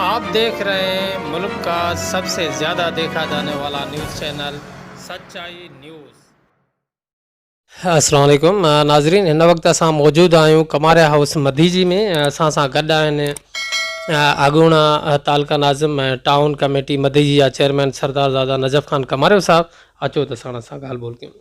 آپ ديکھ رھي ھين ملڪ کا سب سي زياده ديکھا جاني والا نيوز چينل سچائي نيوز. السلام عليڪم ناظرين ھن وقت اسان موجود آھيون ڪماريا ھائوس مديجي ۾ اسان سان گڏ آھن اڳوڻا تعلقه ناظم ۽ ٽائون ڪميٽي مديجي جا چيئرمين سردارزاده نجف خان ڪماريو صاحب اچو ته ساڻس سان ڳالھ ٻولھ ڪيون.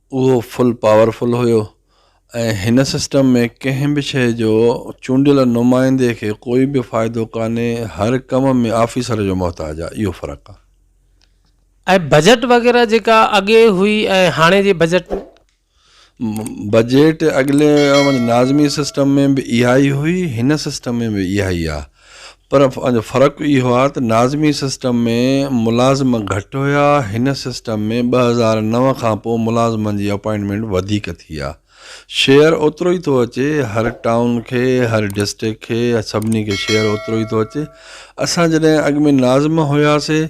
اهو فل پاور فل هيو ۽ هن سسٽم ۾ ڪنهن به شيء جو چونڊيل نمائندي کي ڪوئي به فائدو ڪانهي هر ڪم ۾ آفيسر جو محتاج آهي اهو فرق آهي. ۽ بجيٽ وغيره جيڪا اڳي هئي ۽ هاڻي جي بجيٽ ۾؟ بجيٽ اڳلي ناظمي سسٽم ۾ به اهائي هئي هن سسٽم ۾ به اهائي آهي پر فرق اهو آهي ته ناظمي سسٽم ۾ ملازم گهٽ هيا، هن سسٽم ۾ ٻه هزار نو کان پوء ملازمن جي اپائنٽمينٽ وڌيڪ ٿي آهي. شيئر اوترو ئي ٿو اچي، هر ٽائون کي، هر ڊسٽرڪٽ کي، سڀني کي شيئر اوترو ئي ٿو اچي. اسان جڏهن اڳ ۾ ناظم هياسي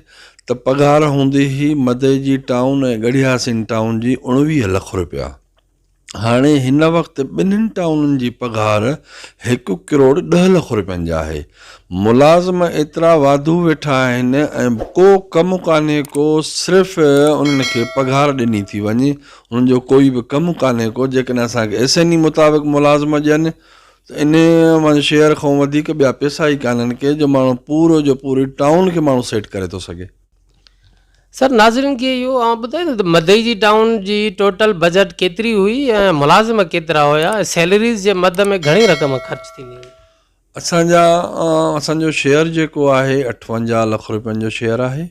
ته پگهار هوندي هئي مدئي جي ٽائون ۽ ڳڙهياسين ٽائون جي اوڻويهه لک رپيا. هاڻي هن وقت ٻنهن ٽائونن جي پگهار هڪ ڪروڙ ڏهه لک روپين جي آهي. ملازم ايترا واڌو ويٺا آهن ۽ ڪو ڪم ڪانهي ڪو صرف انهن کي پگهار ڏني ٿي وڃي انهن جو ڪوئي به ڪم ڪانهي ڪو جيڪڏهن اسان کي ايس اين اي مطابق ملازم ڏين ته انهن مان شيئر کان وڌيڪ ٻيا پيسا ئي ڪانهن ڪي جو ماڻهو پورو جو پوري ٽائون کي ماڻهو سيٽ ڪري ٿو سگهي. سر ناظرين کي اهو آئون ٻڌايان ته مدئي جي ٽائون جي ٽوٽل بجيٽ ڪيتري هئي ۽ ملازم ڪيترا هيا ۽ سيلريز جي مد ۾ گهڻي رقم خرچ ٿيندي هئي. اسان جا اسان جو شيئر جيڪو آهي اٺونجاهه لک روپين جو شيئر آهي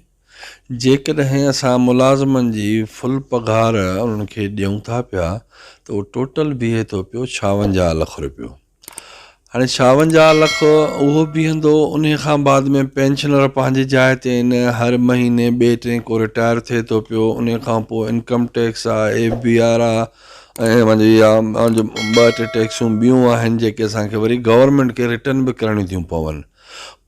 جيڪڏهن اسان ملازمن جي فل پگهار انهن کي ڏيون ٿا پيا ته اهو ٽوٽل بيهي ٿو پيو ڇاونجاهه لک روپيو هاڻي ڇاونجاهه لک اهو بيهندو انهي کان بعد ۾ پينشنر پنهنجي جاء تي ان هر مهيني ٻئي ٽئين ڪو رٽائر ٿئي ٿو پيو انهي کان پوء انڪم ٽيڪس آ ايف بي آر آ ۽ پنهنجي يا پنهنجي ٻه ٽي ٽيڪسون ٻيون آهن جيڪي اسان کي وري گورنمينٽ کي رٽن به ڪرڻيون ٿيون پون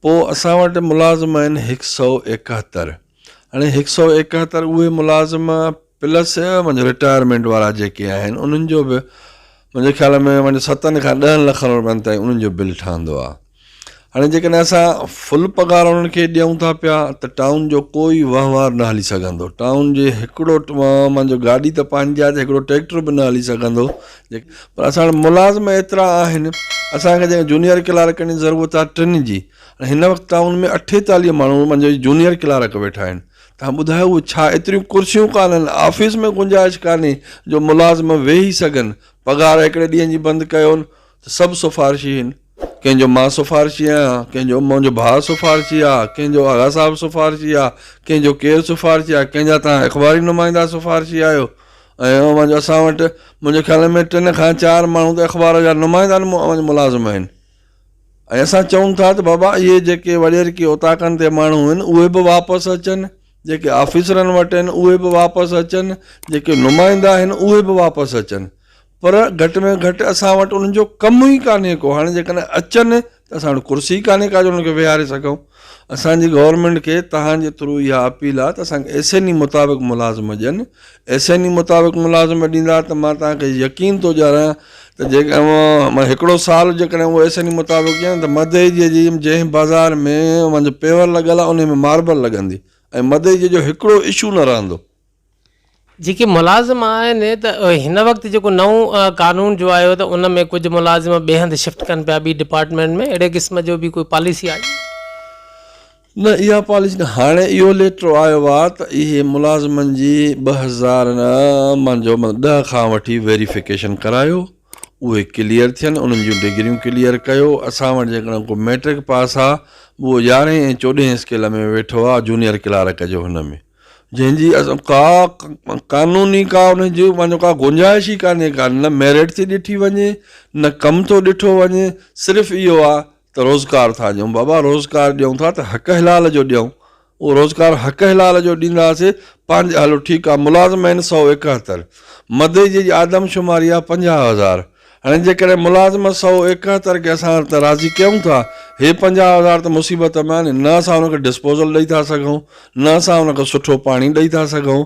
پوء اسان وٽ ملازم آهن هڪ سئو ايڪهتر هاڻي هڪ سئو ايڪهتر اهي ملازم پلس منهنجو رٽائرمينٽ وارا جيڪي آهن انهن جو به منهنجي خيال ۾ منهنجو ستن کان ڏهن لکن روپين تائين انهن جو بل ٺهندو آهي هاڻي جيڪڏهن اسان فل پگهار انهن کي ڏيون ٿا پيا ته ٽائون جو ڪوئي وهنوار نه هلي سگهندو ٽائون جي هڪڙو منهنجو گاڏي ته پنهنجي آهي ته هڪڙو ٽريڪٽر به نه هلي سگهندو پر اسان وٽ ملازم ايترا آهن اسان کي جيڪڏهن جونيئر ڪلارڪن جي ضرورت آهي ٽن جي هن وقت ٽائون ۾ اٺيتاليهه ماڻهو منهنجو جونيئر ڪلارڪ ويٺا آهن ها ٻڌاء اهو ڇا ايتريون ڪرسيون ڪانهن آفيس ۾ گنجائش ڪانهي جو ملازم ويهي سگهن پگهار هڪڙي ڏينهن جي بند ڪيون ته سڀ سفارشي هين ڪنهن جو مان سفارشي آهيان ڪنهن جو منهنجو ڀاء سفارشي آ ڪنهن جو آغا صاحب سفارشي آ ڪنهن جو ڪير سفارشي آ ڪنهن جا توهان اخباري نمائندا سفارشي آهيو ۽ اوهان جو اسان وٽ منهنجي خيال ۾ ٽن کان چار ماڻهو ته اخبار جا نمائندا اوهان جا ملازم آهن ۽ اسان چئون ٿا ته بابا اهي جيڪي وڏيرڪي اوطاقن تي ماڻهو آهن اهي به واپس اچن، جيڪي آفيسرن وٽ آهن اهي به واپس اچن، جيڪي نمائندا آهن اهي به واپس اچن پر گهٽ ۾ گهٽ اسان وٽ انهن جو ڪم ئي ڪانهي ڪو هاڻي جيڪڏهن اچن ته اسان وٽ ڪرسي ڪانهي ڪا جو انهن کي ويهاري سگهون. اسان جي گورنمينٽ کي توهان جي ٿرو اها اپيل آهي ته اسان کي ايس اين اي مطابق ملازمه ڏين ايس اين اي مطابق ملازمه ڏيندا ته مان توهان کي يقين ٿو ڏياران ته جيڪڏهن اوهان هڪڙو سال جيڪڏهن اوهان ايس اين اي مطابق ڏين ته مدئجي جي جنهن بازار ۾ اوهان جو پيور لڳل آهي انهي ۾ ماربل لڳندي ۽ مدئجي جو هڪڙو اشو نه رهندو جيڪي ملازم آهن ته هن وقت جيڪو نئون قانون جو آيو ته ان ۾ ڪجهه ملازم ٻئي هنڌ شفٽ ڪن پيا ٻي ڊپارٽمينٽ ۾ اهڙي قسم جو به ڪوئي پاليسي آئي؟ نه اها پاليسي نه هاڻي اهو ليٽر آيو آهي ته اهي ملازمن جي ٻه هزار منجهو مطلب ڏهه کان وٺي ويريفڪيشن ڪرايو اهي ڪليئر ٿين انهن جون ڊگريون ڪليئر ڪيو اسان وٽ جيڪڏهن ڪو ميٽرڪ پاس آهي اهو يارهين ۽ چوڏهين اسڪيل ۾ ويٺو آهي جونيئر ڪلارڪ جو هن ۾. جنهن جي ڪا قانوني ڪا ان جي معنيٰ ڪا گنجائش ئي ڪانهي ڪا نه ميرٽ ٿي ڏٺي وڃي نه ڪم ٿو ڏٺو وڃي صرف اهو آ ته روزگار ٿا ڏيون بابا روزگار ڏيون ٿا ته حق حلال جو ڏيون اهو روزگار حق حلال جو ڏينداسي پنهنجي هلو ٺيڪ آ ملازم آهن سؤ ايڪهتر مدئي جي آدمشماري آ پنجاهه هزار هاڻي جيڪڏهن ملازمت سؤ ايڪهتر کي اسان هر طرح راضي ڪيون ٿا، هي پنجاهه هزار ته مصيبت ۾ آهن، نه اسان ان کي ڊسپوزل ڏئي ٿا سگهون، نه اسان ان کي سٺو پاڻي ڏئي ٿا سگهون،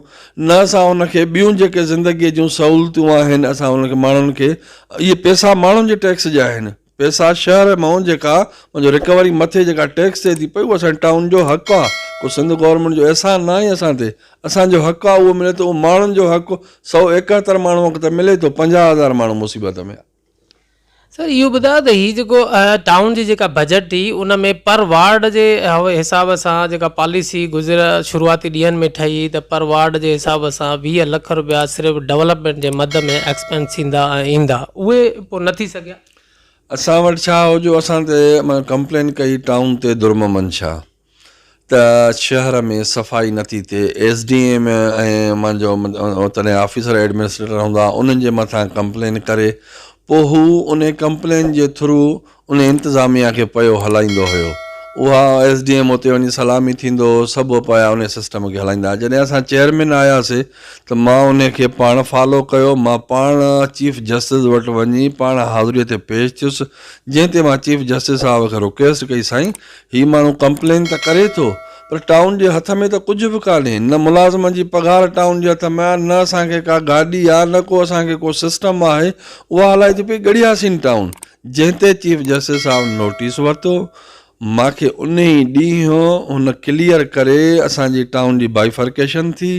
نه اسان ان کي ٻيون جيڪي زندگيء جون سهولتون آهن اسان ان کي ماڻهن کي اهي پئسا ماڻهن جي ٽيڪس جا آهن، پئسا شهر مئون جيڪا ان جو رڪوري مٿي جيڪا ٽيڪس ٿئي ٿي پئي اهو اسان جي ٽائون جو حق آهي، ڪو سنڌ گورنمينٽ جو احسان ناهي اسان تي، اسان جو حق آ اهو ملي ٿو اهو ماڻهن جو حق سؤ ايڪهتر ماڻهونک ته ملي ٿو پنجاهه هزار ماڻهو مصيبت ۾ آ. سر اهو ٻڌايو ته هي جيڪو ٽائون جي جيڪا بجيٽ ٿي ان ۾ پر وارڊ جي حساب سان جيڪا پاليسي گذريل شروعاتي ڏينهن ۾ ٺهي ته پر وارڊ جي حساب سان ويهه لک رپيا صرف ڊولپمينٽ جي مد ۾ ايڪسپينس ٿيندا ۽ ايندا اهي پوء نه ٿي سگهيا. اسان وٽ ڇا هو جو اسان تي مان ڪمپلين ڪئي ٽائون تي درممن شاهه. ته شهر ۾ صفائي نٿي ٿئي، ايس ڊي ايم ايم جو تڏهن آفيسر ايڊمنسٽريٽر هوندا انهن جي مٿان ڪمپلين ڪري پوء هو ان ڪمپلين جي ٿرو ان انتظاميا کي پيو هلائيندو هيو اها ايس ڊي ايم اتي وڃي سلامي ٿيندو هو سڀ پيا ان سسٽم کي هلائيندا جڏهن اسان چيئرمين آياسي ته مان ان کي پاڻ فالو ڪيو مان پاڻ چيف جسٽس وٽ وڃي پاڻ حاضري تي پيش ٿيس جنهن تي مان چيف جسٽس صاحب کي رڪويسٽ ڪئي سائين هي ماڻهو ڪمپلين ته ڪري ٿو پر ٽائون جي هٿ ۾ ته ڪجهه به ڪانهي، نه ملازمن جي پگهار ٽائون جي هٿ ۾ آهي، نه اسان کي ڪا گاڏي آهي، نه ڪو اسان کي ڪو سسٽم آهي، اها هلائي ٿي پئي ڳڙهياسين ٽائون. جنهن تي چيف جسٽس صاحب نوٽيس ورتو، مان کي انهي ڏينهن هن ڪليئر ڪري اسان جي ٽائون جي بائيفرڪيشن ٿي،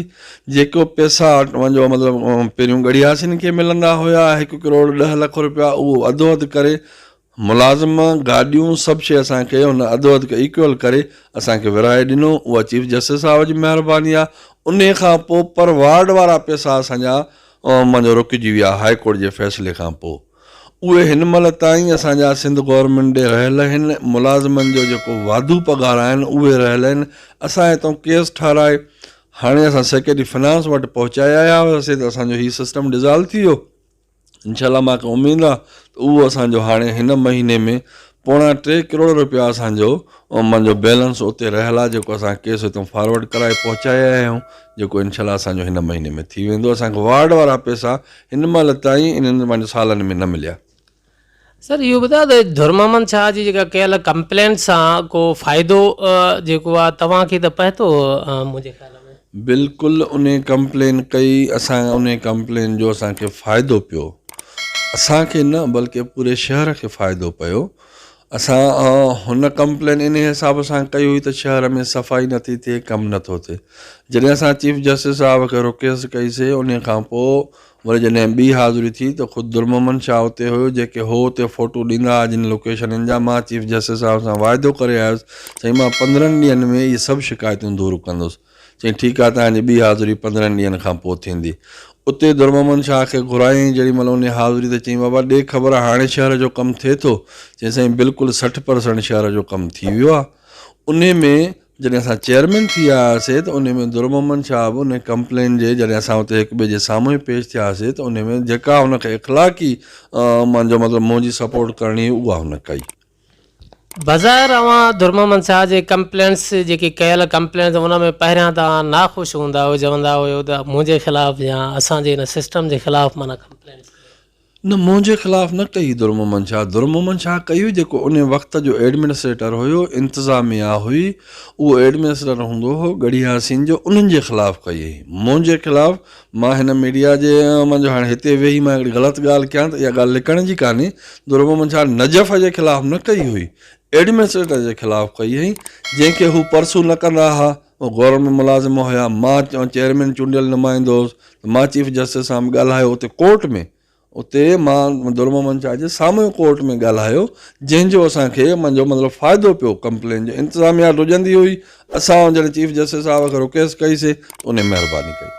جيڪو پئسا جو مطلب پهريون ڳڙهياسين کي ملندا هيا هڪ ڪروڙ ڏهه لک رپيا اهو اڌو اڌ ڪري ملازم، گاڏيون، سڀ شيء اسان کي هن اڌو اڌ ايڪول ڪري اسان کي ورهائي ڏنو، اها چيف جسٽس صاحب جي مهرباني آ، انهيء کان پوء پر وارڊ وارا پئسا اسان جا مان جو رڪجي ويا هاء ڪورٽ جي فيصلي کان پوء اهي هن مهل تائين اسان جا سنڌ گورنمينٽ ڏي رهيل اهن، ملازمن جو جيڪو واڌو پگهار آهن اهي رهيل اهن، اسان هتئون ڪيس ٺاهرائي هاڻي اسان سيڪريٽري فنانس وٽ پهچائي آيا هئاسين ته اسان جو هي سسٽم ڊزالو ٿي ويو، انشاء الله ماکي اميد آ ته اهو اسان جو هاڻي هن مهيني ۾ پوڻا ٽي ڪروڙ رپيا اسان جو من جو بيلنس اتي رهيل آ جيڪو اسان ڪيس هتو فارورڊ ڪرائي پهچائي آيا آهيون جيڪو انشاء الله اسان جو هن مهيني ۾ ٿي ويندو اسان کي وارڊ وارا پيسا هن مهل تائين انهن سالن ۾ نه مليا سر اهو ٻڌايو ته ڌر محمد شاهه جي جيڪا ڪيل ڪمپلينٽ سان ڪو فائدو جيڪو آ توهان کي ته پهتو منهنجي خيال ۾. بلڪل انهي ڪمپلين ڪئي اسان انهي ڪمپلين جو اسان کي فائدو پيو اسان کي نه بلڪه پوري شهر کي فائدو پيو اسان هن ڪمپلين انهي حساب سان ڪئي هئي ته شهر ۾ صفائي نٿي ٿئي ڪم نٿو ٿئي جڏهن اسان چيف جسٽس صاحب کي رڪيسٽ ڪئي سي انهي کان پوء وري جڏهن ٻي حاضري ٿي ته خود درمحمد شاهه اتي هيو جيڪي هو اتي فوٽو ڏيندا ها جن لوڪيشنن جا مان چيف جسٽس صاحب سان واعدو ڪري آيس سائين مان پندرهن ڏينهن ۾ اهي سڀ شڪايتون دور ڪندس چيائين ٺيڪ آهي توهان جي ٻي حاضري پندرهن ڏينهن کان پوء ٿيندي اتي درمحمد شاهه کي گهرايائين جيڏي مهل انهي حاضري ته چيائين بابا ڏي خبر هاڻي شهر جو ڪم ٿئي ٿو چيائين سائين بلڪل سٺ پرسنٽ شهر جو ڪم ٿي ويو آهي انهي ۾ جڏهن اسان چيئرمين ٿي آياسي ته انهي ۾ درمحمد شاهه به انهي ڪمپلين جي جڏهن اسان اتي هڪ ٻئي جي سامهون پيش ٿياسي ته انهي ۾ جيڪا هن کي اخلاقي منهنجو مطلب منهنجي سپورٽ ڪرڻي هئي اها هن ڪئي. بظاهر اوهان درمحمد شاهه جي ڪمپلينس جيڪي ڪيل ڪمپلينس ان ۾ پهريان ته اوهان ناخوش هوندا هئو چوندا هيو ته منهنجي خلاف يا اسان جي ان سسٽم جي خلاف معنيٰ ڪمپلينس ڪيو ويو. نه منهنجي خلاف نه ڪئي درمحمد شاهه درمحمد شاهه ڪئي هئي جيڪو ان وقت جو ايڊمنسٽريٽر هيو انتظاميا هئي اهو ايڊمنسٽريٽر هوندو هو ڳڙهي حسين جو انهن جي خلاف ڪئي هئي منهنجي خلاف مان هن ميڊيا جي منجهه هاڻي هتي ويهي مان هڪڙي غلط ڳالهه ڪيان ته اها ڳالهه لڪڻ جي ڪانهي درمحمد شاهه نجف جي خلاف نه ڪئي هئي ايڊمنسٽريٽر جي خلاف ڪئي هئي جنهن کي هو پرسو نه ڪندا ها مون گورنر ۾ ملازم هيا، مان چيئرمين چونڊيل نمائندو هوس ته مان چيف جسٽس سان به ڳالهايو اتي ڪورٽ ۾ اتي مان درمحمد شاهه جي سامهون ڪورٽ ۾ ڳالهايو جنهن جو اسان کي منهنجو مطلب فائدو پيو ڪمپلين جو انتظاميا ڊڄندي هئي اسان جڏهن چيف جسٽس صاحب کي رڪويسٽ ڪئي سي ته انهي مهرباني ڪئي.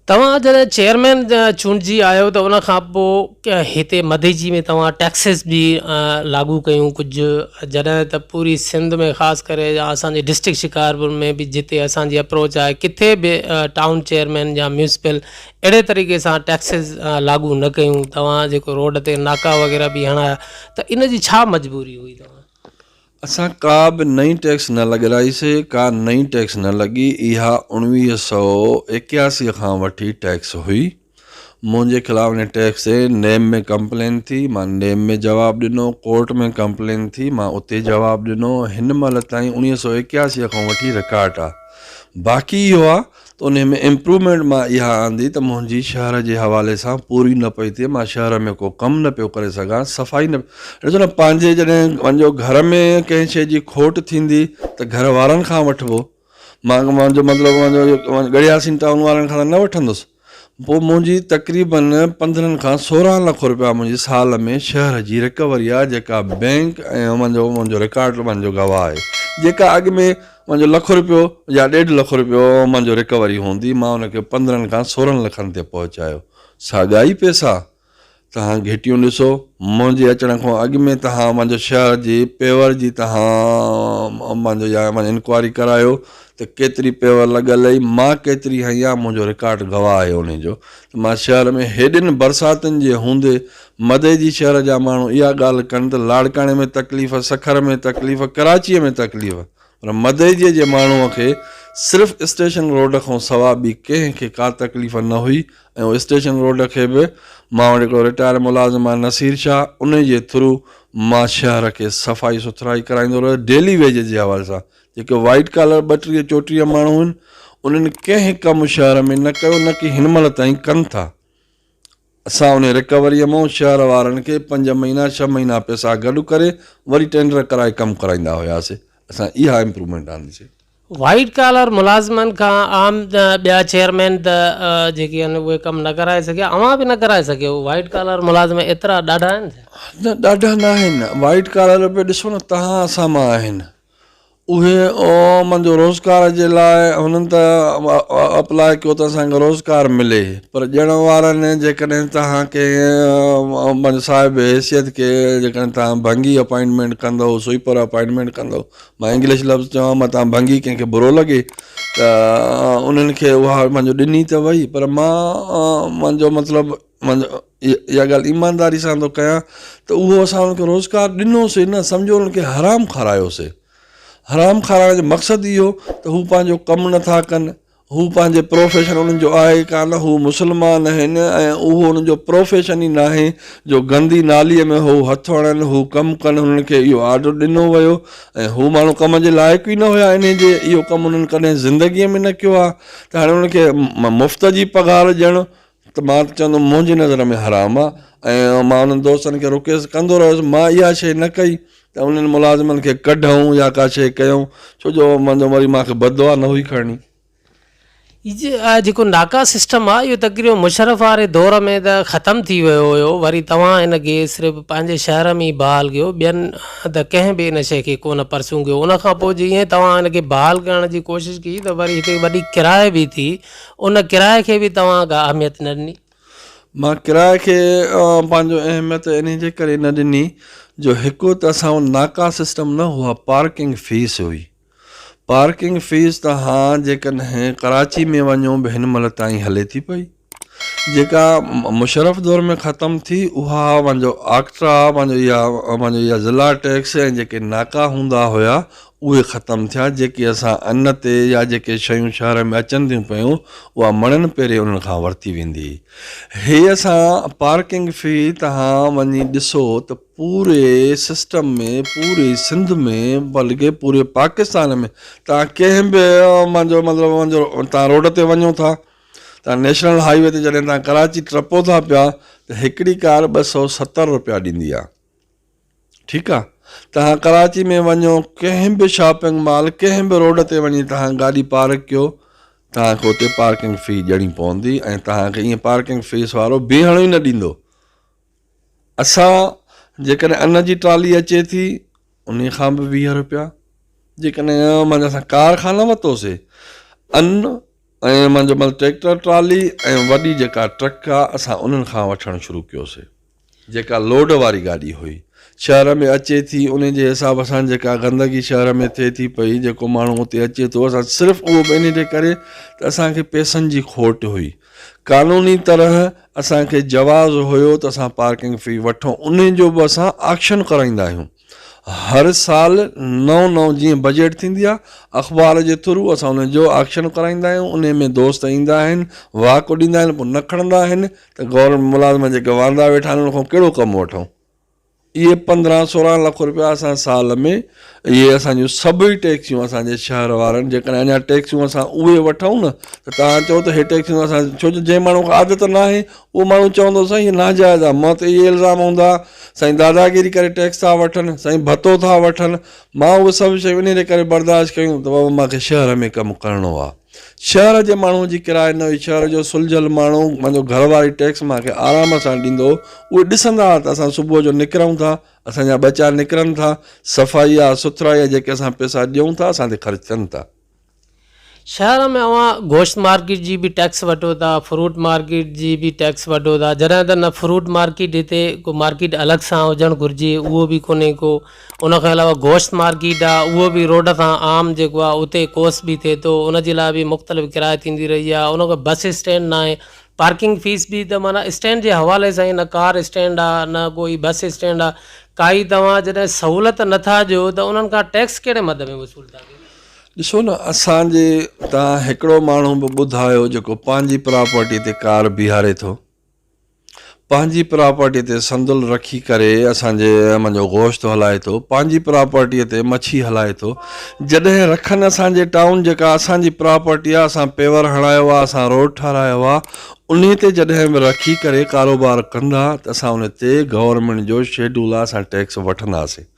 توهان جڏهن چيئرمين چونڊجي آيو ته ان کان پوء هتي مديجي ۾ توهان ٽيڪسز به لاڳو ڪيون ڪجهه جڏهن ته پوري سنڌ ۾ خاص ڪري اسان جي ڊسٽرڪٽ شڪارپور ۾ به جتي اسان جي اپروچ آهي ڪٿي به ٽائون چيئرمين يا ميونسپل اهڙي طريقي سان ٽيڪسز لاڳو نه ڪيون توهان جيڪو روڊ تي ناڪا وغيره به هڻايا ته ان جي ڇا مجبوري هئي توهان اسان ڪا به نئين ٽيڪس نه لڳرائيسي، ڪا نئين ٽيڪس نه لڳي، اها اوڻويهه سؤ ايڪياسي کان وٺي ٽيڪس هئي. منهنجي خلاف ان ٽيڪس تي نيب ۾ ڪمپلين ٿي، مان نيب ۾ جواب ڏنو، ڪورٽ ۾ ڪمپلين ٿي، مان اتي جواب ڏنو، هن مهل تائين اوڻويهه سؤ ايڪياسي کان وٺي رڪارڊ آ، باقي اهو آ. ته انهي ۾ امپروومينٽ مان اها آندي ته منهنجي شهر جي حوالي سان پوري نه پئي ٿئي مان شهر ۾ ڪو ڪم نه پيو ڪري سگهان صفائي نه ڏسو نه پنهنجي جڏهن پنهنجو گهر ۾ ڪنهن شئي جي کوٽ ٿيندي ته گهر وارن کان وٺبو مان منهنجو مطلب منهنجو گڙياسين ٽائون وارن کان نه وٺندس پوء منهنجي تقريبن پندرهن کان سورهن لک روپيا منهنجي سال ۾ شهر جي رڪوري آهي جيڪا بئنڪ ۽ منهنجو منهنجو رڪارڊ منهنجو گواهه آهي جيڪا اڳ ۾ منهنجو لک روپيو يا ڏيڍ لک روپيو منهنجو رڪوري هوندي مان ان کي پندرهن کان سورهن لکن تي پهچايو ساڳيا ئي پئسا تهان گهٽيون ڏسو منهنجي اچڻ کان اڳ ۾ تهان منهنجو شهر جي پيور جي تهان منهنجو يا منهنجو انڪوائري ڪرايو ته ڪيتري پيور لڳل هئي مان ڪيتري هنيا منهنجو رڪارڊ گواهه آهي انهي جو ته مان شهر ۾ هيڏين برساتن جي هوندي مدئي جي شهر جا ماڻهو اها ڳالهه ڪن ته لاڙڪاڻي ۾ تڪليف، سکر ۾ تڪليف، ڪراچيء ۾ تڪليف پر مدئجيء جي ماڻهوء کي صرف اسٽيشن روڊ کان سوا ٻي ڪنهن کي ڪا تڪليف نه هئي ۽ اسٽيشن روڊ کي به مان وٽ هڪڙو رٽائر ملازم آهي نصير شاهه انهي جي ٿرو مان شهر کي صفائي سٿرائي ڪرائيندو رهيس ڊيلي ويجز جي حوالي سان جيڪي وائيٽ ڪالر ٻٽيهه چوٽيهه ماڻهو هئن انهن ڪنهن ڪم شهر ۾ نه ڪيو نه ڪي هن مهل تائين ڪن ٿا. اسان انهي رڪوريء مئن شهر وارن کي پنج مهينا ڇهه مهينا پئسا گڏ ڪري وري ٽينڊر ڪرائي ڪم ڪرائيندا هياسين اسان اها امپرومينٽ آنديسين. وائيٽ ڪالر ملازمن کان عام ٻيا چيئرمين ته جيڪي آهن اهي ڪم نه ڪرائي سگهيا اوهان به نه ڪرائي سگهيو وائيٽ ڪالر ملازم ايترا ڏاڍا آهن ڇا؟ نه ڏاڍا ناهن وائيٽ ڪالر به ڏسو نه تهان اسان مان آهن اهي عوام جو روزگار جي لاء هنن ته اپلاء ڪيو ته اسان کي روزگار ملي پر ڏيڻ وارن جيڪڏهن توهان کي پنهنجي صاحب حيثيت کي جيڪڏهن توهان ڀنگي اپائنٽمينٽ ڪندو سوئيپر اپائنٽمينٽ ڪندو مان انگلش لفظ چوان متان ڀنگي ڪنهن کي برو لڳي ته انهن کي اها منهنجو ڏني ته وئي پر مان منهنجو مطلب مان اها ڳالهه ايمانداري سان ٿو ڪيان ته اهو اسان انهن کي روزگار ڏنوسي نه سمجهو انهن کي حرام کارايوسي حرام کارائڻ جو مقصد اهو ته هو پنهنجو ڪم نٿا ڪن هو پنهنجي پروفيشن انهن جو آهي ڪانه هو مسلمان آهن ۽ اهو انهن جو پروفيشن ئي ناهي جو گندي ناليء ۾ هو هٿ هڻن هو ڪم ڪن هنن کي اهو آرڊر ڏنو ويو ۽ هو ماڻهو ڪم جي لائق ئي نه هيا انهي جي اهو ڪم هنن ڪڏهن زندگيء ۾ نه ڪيو آهي ته هاڻي انهن کي مفت جي پگهار ڏيڻ ته مان ته چوندم منهنجي نظر ۾ حرام آ ۽ مان انهن دوستن کي رڪيس ڪندو رهيس مان اها شيء نه ڪئي ته انهن ملازمن کي ڪڍئون يا ڪا شيء ڪيئون ڇو جو منهنجو وري مان کي بددعا نه هئي کرڻي. اهو جيڪو ناڪا سسٽم آ اهو تقريبن مشرف واري دور ۾ ته ختم ٿي ويو هيو وري توهان هن کي صرف پنهنجي شهر ۾ ئي بحال ڪيو ٻين ته ڪنهن به ان شيء کي ڪونه پرسيون ڪيو ان کان پوء جيئن توهان ان کي بحال ڪرڻ جي ڪوشش ڪئي ته وري هتي وڏي ڪرائي به ٿي ان ڪرايي کي به توهان ڪا اهميت نه ڏني؟ مان ڪرايي کي پنهنجو اهميت انهي جي ڪري نه ڏني جو هڪ ته اسان وٽ ناڪا سسٽم نه هئا پارڪنگ فيس هئي پارڪنگ فيس توهان جيڪڏهن ڪراچي ۾ وڃو به هن مهل تائين هلي ٿي پئي جيڪا مشرف دور ۾ ختم ٿي اها پنهنجو آڪٽرا پنهنجو اها پنهنجو اها ضلع ٽيڪس ۽ جيڪي ناڪا هوندا هيا اهي ختم ٿيا جيڪي اسان ان تي يا جيڪي شيون شهر ۾ اچن ٿيون پيون اها مڻن پيري انهن کان ورتي ويندي هي اسان پارڪنگ في تهان وڃي ڏسو ته پوري سسٽم ۾ پوري سنڌ ۾ بلڪه پوري پاڪستان ۾ تهان ڪنهن به منهنجو مطلب منهنجو تهان روڊ تي وڃو ٿا تهان نيشنل هاء وي تي جڏهن تهان ڪراچي ٽپو ٿا پيا ته هڪڙي ڪار ٻه سؤ ستر روپيا ڏيندي آهي ٺيڪ آ توهان ڪراچي ۾ وڃو ڪنهن به شاپنگ مال ڪنهن به روڊ تي وڃي توهان گاڏي پارڪ ڪيو توهان کي اتي پارڪنگ في ڏيڻي پوندي ۽ توهان کي ائين پارڪنگ فيس وارو بيهڻ ئي نه ڏيندو اسان جيڪڏهن ان جي ٽرالي اچي ٿي ان کان به ويهه روپيا جيڪڏهن مانجا اسان کان ورتوسي ان ۽ مانجو مطلب ٽريڪٽر ٽرالي ۽ وڏي جيڪا ٽرڪ آ اسان انهن کان وٺڻ شروع ڪيوسي جيڪا لوڊ واري گاڏي هئي شهر ۾ اچي ٿي انهي جي حساب سان جيڪا گندگي شهر ۾ ٿئي ٿي پئي جيڪو ماڻهو اتي اچي ٿو اسان صرف اهو به انهي جي ڪري ته اسان کي پئسن جي کوٽ هئي قانوني طرح اسان کي جواز هيو ته اسان پارڪنگ في وٺون انهي جو به اسان آڪشن ڪرائيندا آهيون. هر سال نئون نئون جيئن بجيٽ ٿيندي آهي اخبار جي ٿرو اسان ان جو آڪشن ڪرائيندا آهيون انهي ۾ دوست ايندا آهن واڪ اڏيندا آهن پوء نه کڻندا آهن ته گورنمينٽ ملازم جيڪي واندا ويٺا آهن انهن کان ڪهڙو ڪم وٺون اهي پندرهن سورهن لک روپيا اسان سال ۾ اهي اسان جون سڀئي ٽيڪسيون اسان جي شهر وارن جيڪڏهن اڃا ٽيڪسيون اسان اهي وٺون نه ته توهان چئو ته اهي ٽيڪسيون اسان ڇو جو جنهن ماڻهو کي عادت ناهي اهو ماڻهو چوندو سائين هي ناجائز آ مان تي اهي الزام هوندا سائين داداگيري ڪري ٽيڪس ٿا وٺن سائين ڀتو ٿا وٺن مان اهي سڀ شيون انهي جي ڪري برداشت ڪيون ته بابا مان کي شهر ۾ ڪم ڪرڻو آ شهر جي ماڻهو جي ڪرائي نه هئي شهر جو سلجهيل ماڻهو پنهنجو گهر واري ٽيڪس مان کي آرام سان ڏيندو هو اهي ڏسندا ته اسان صبح جو نڪرون ٿا اسان جا ٻچا نڪرن ٿا صفائي آ سٿرائي آ جيڪي اسان پئسا ڏيون ٿا اسان تي خرچ ٿين ٿا. شهر ۾ اوهان گوشت مارڪيٽ جي به ٽيڪس وٺو ٿا، فروٽ مارڪيٽ جي به ٽيڪس وٺو ٿا، جڏهن ته نه فروٽ مارڪيٽ هتي ڪو مارڪيٽ الڳ سان هجڻ گهرجي اهو به ڪونهي ڪو، ان کان علاوه گوشت مارڪيٽ آ اهو به روڊ سان عام جيڪو آ اتي ڪوس به ٿئي ٿو ان جي لاء به مختلف ڪرايو ٿيندي رهي آ، ان کان بس اسٽينڊ ناهي پارڪنگ فيس به ته معنيٰ اسٽينڊ جي حوالي سان ئي نه ڪار اسٽينڊ آ نه ڪوئي بس اسٽينڊ آ ڪائي توهان جڏهن سهولت نٿا ڏيو ته انهن کان ٽيڪس ڪهڙي مد ۾ وصول ٿا ڪيو. ڏسو نه اسان جي اتان هڪڙو ماڻهو به ٻڌايو جيڪو پنهنجي پراپرٽي تي ڪار بيهاري ٿو پنهنجي پراپرٽي تي سندل رکي ڪري اسان جي ايم جو گوشت هلائي ٿو پنهنجي پراپرٽي تي مڇي هلائي ٿو جڏهن رکن اسان جي ٽائون جيڪا اسان جي پراپرٽي آ اسان پيور هڻايو آ اسان روڊ ٺارايو آ انهي تي جڏهن به رکي ڪري ڪاروبار ڪندا ته اسان انهي تي گورنمينٽ جو شيڊول آ اسان ٽيڪس وٺنداسين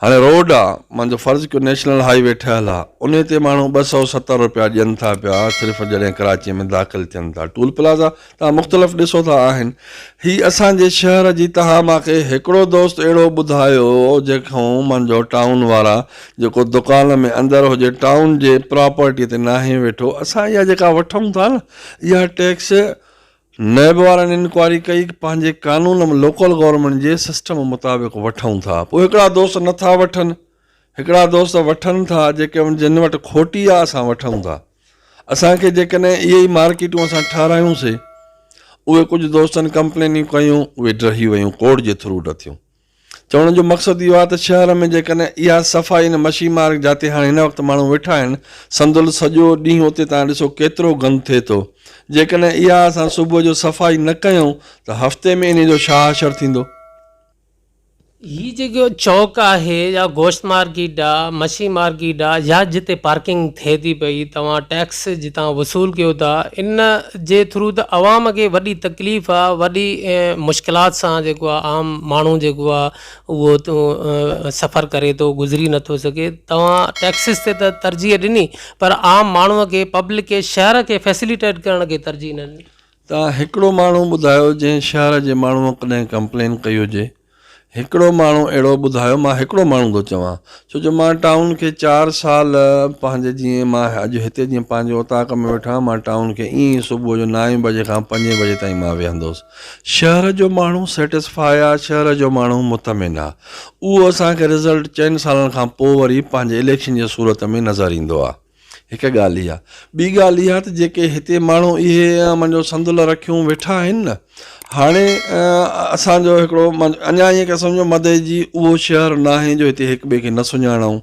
هاڻي روڊ آ مانجو فرض ڪيو نيشنل هائي وي ٺهيل آ انهي تي ماڻهو ٻه سؤ ستر رپيا ڏين ٿا پيا صرف جڏهن ڪراچي ۾ داخل ٿين ٿا ٽول پلازا توهان مختلف ڏسو ٿا آهن هي اسان جي شهر جي توهان مان کي هڪڙو دوست اهڙو ٻڌايو جيڪون مانجو ٽائون وارا جيڪو دڪان ۾ اندر هجي ٽائون جي پراپرٽي تي ناهي ويٺو اسان اها جيڪا وٺون ٿا نه اها ٽيڪس نيب وارن انڪوائري ڪئي پنهنجي قانون م لوڪل گورنمينٽ جي سسٽم مطابق وٺون ٿا پوء هڪڙا دوست نه ٿا وٺن هڪڙا دوست وٺن ٿا جيڪي جن وٽ کوٽي آ اسان وٺون ٿا اسان کي جيڪڏهن اهي ئي مارڪيٽون اسان ٺارايون سي اهي ڪجهه دوستن ڪمپلينيون ڪيون اهي ڊهي ويون ڪورٽ جي ٿرو ڊٿيون چوڻ جو مقصد اهو آهي ته شهر ۾ جيڪڏهن اها صفائي ان مڇي مارڪ جاتي هاڻي هن وقت ماڻهو ويٺا آهن سندل سڄو ڏينهن اتي توهان ڏسو ڪيترو گند ٿئي ٿو جيڪڏهن اها اسان صبح جو صفائي نه ڪيون ته هفتي ۾ انهي جو ڇا حشر ٿيندو. هي جيڪو چوڪ آهي يا گوشت مارڪيٽ آ مڇي مارڪيٽ آ يا جتي پارڪنگ ٿئي ٿي پئي توهان ٽيڪس جتان وصول ڪيو ٿا ان جي ٿرو ته عوام کي وڏي تڪليف آ وڏي مشڪلات سان جيڪو آ عام ماڻهو جيڪو آ اهو سفر ڪري ٿو گذري نٿو سگهي توهان ٽيڪسز تي ته ترجيح ڏني پر عام ماڻهو کي پبلڪ کي شهر کي فيسليٽيٽ ڪرڻ کي ترجيح نه ڏني. ته هڪڙو ماڻهو ٻڌايو جنهن شهر جي ماڻهو ڪڏهن ڪمپلين ڪئي هجي. هڪڙو ماڻهو اهڙو ٻڌايو، مان هڪڙو ماڻهو ٿو چوان، ڇو جو مان ٽائون کي چار سال پنهنجي جيئن مان اڄ هتي جيئن پنهنجي اوطاق ۾ ويٺو آهيان، مان ٽائون کي ائين ئي صبح جو نائين بجي کان پنجين بجي تائين مان ويهندو هوس. شهر جو ماڻهو Satisfy آ، شهر جو ماڻهو مطمئن آ. اهو اسان کي رزلٽ چئن سالن کان پوء وري پنهنجي اليڪشن جي صورت ۾ نظر ايندو آ. هڪ ڳالهه اها. ٻي ڳالهه اها ته جيڪي هتي ماڻهو اهي امن جو سندل رکيون ويٺا آهن نه هاڻي اسان جو هڪڙو اڃا ائين ڪري سمجهو مدئي جي اهو شهر ناهي جو هتي هڪ ٻئي کي نه سڃاڻون.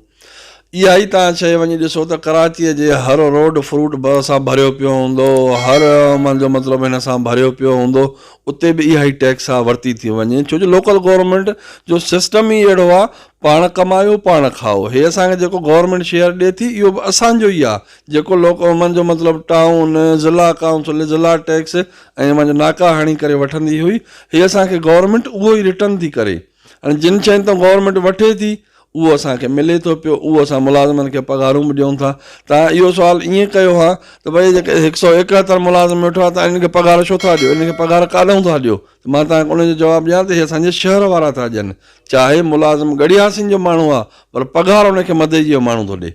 اها ئي توهان شيء وڃي ڏسو ته ڪراچيء جي هر روڊ فروٽ سان ڀريو پيو هوندو، هر امن جو مطلب هن سان ڀريو پيو هوندو، اتي به اها ئي ٽيڪس آ ورتي ٿي وڃي ڇو جو لوڪل گورنمينٽ جو سسٽم ئي اهڙو آ پاڻ ڪمايو پاڻ کائو هي اسان کي جيڪو گورنمينٽ شيئر ڏي ٿي اهو به اسان جو ئي آ جيڪو لوڪ اومن جو مطلب ٽائون ضلع ڪائونسل ضلع ٽيڪس ۽ اوهان جو ناڪا هڻي ڪري وٺندي هئي هي اسان کي گورنمينٽ اهو ئي رٽن ٿي ڪري هاڻي جن شين تان گورنمينٽ وٺي ٿي اهو اسان کي ملي ٿو پيو اهو اسان ملازمن کي پگهارون به ڏيون ٿا تان اهو سوال ائين ڪيو ها ته ڀئي جيڪي هڪ سؤ ايڪهتر ملازم ويٺو آ تان انهن کي پگهار ڇو ٿا ڏيو انهن کي پگهار ڪاڏهون ٿا ڏيو ته مان تان کي ان جو جواب ڏيان ته هي اسان جي شهر وارا ٿا ڏين چاهي ملازم ڳڙهي حاسين جو ماڻهو آ پر پگهار ان کي مدئجي جو ماڻهو ٿو ڏي.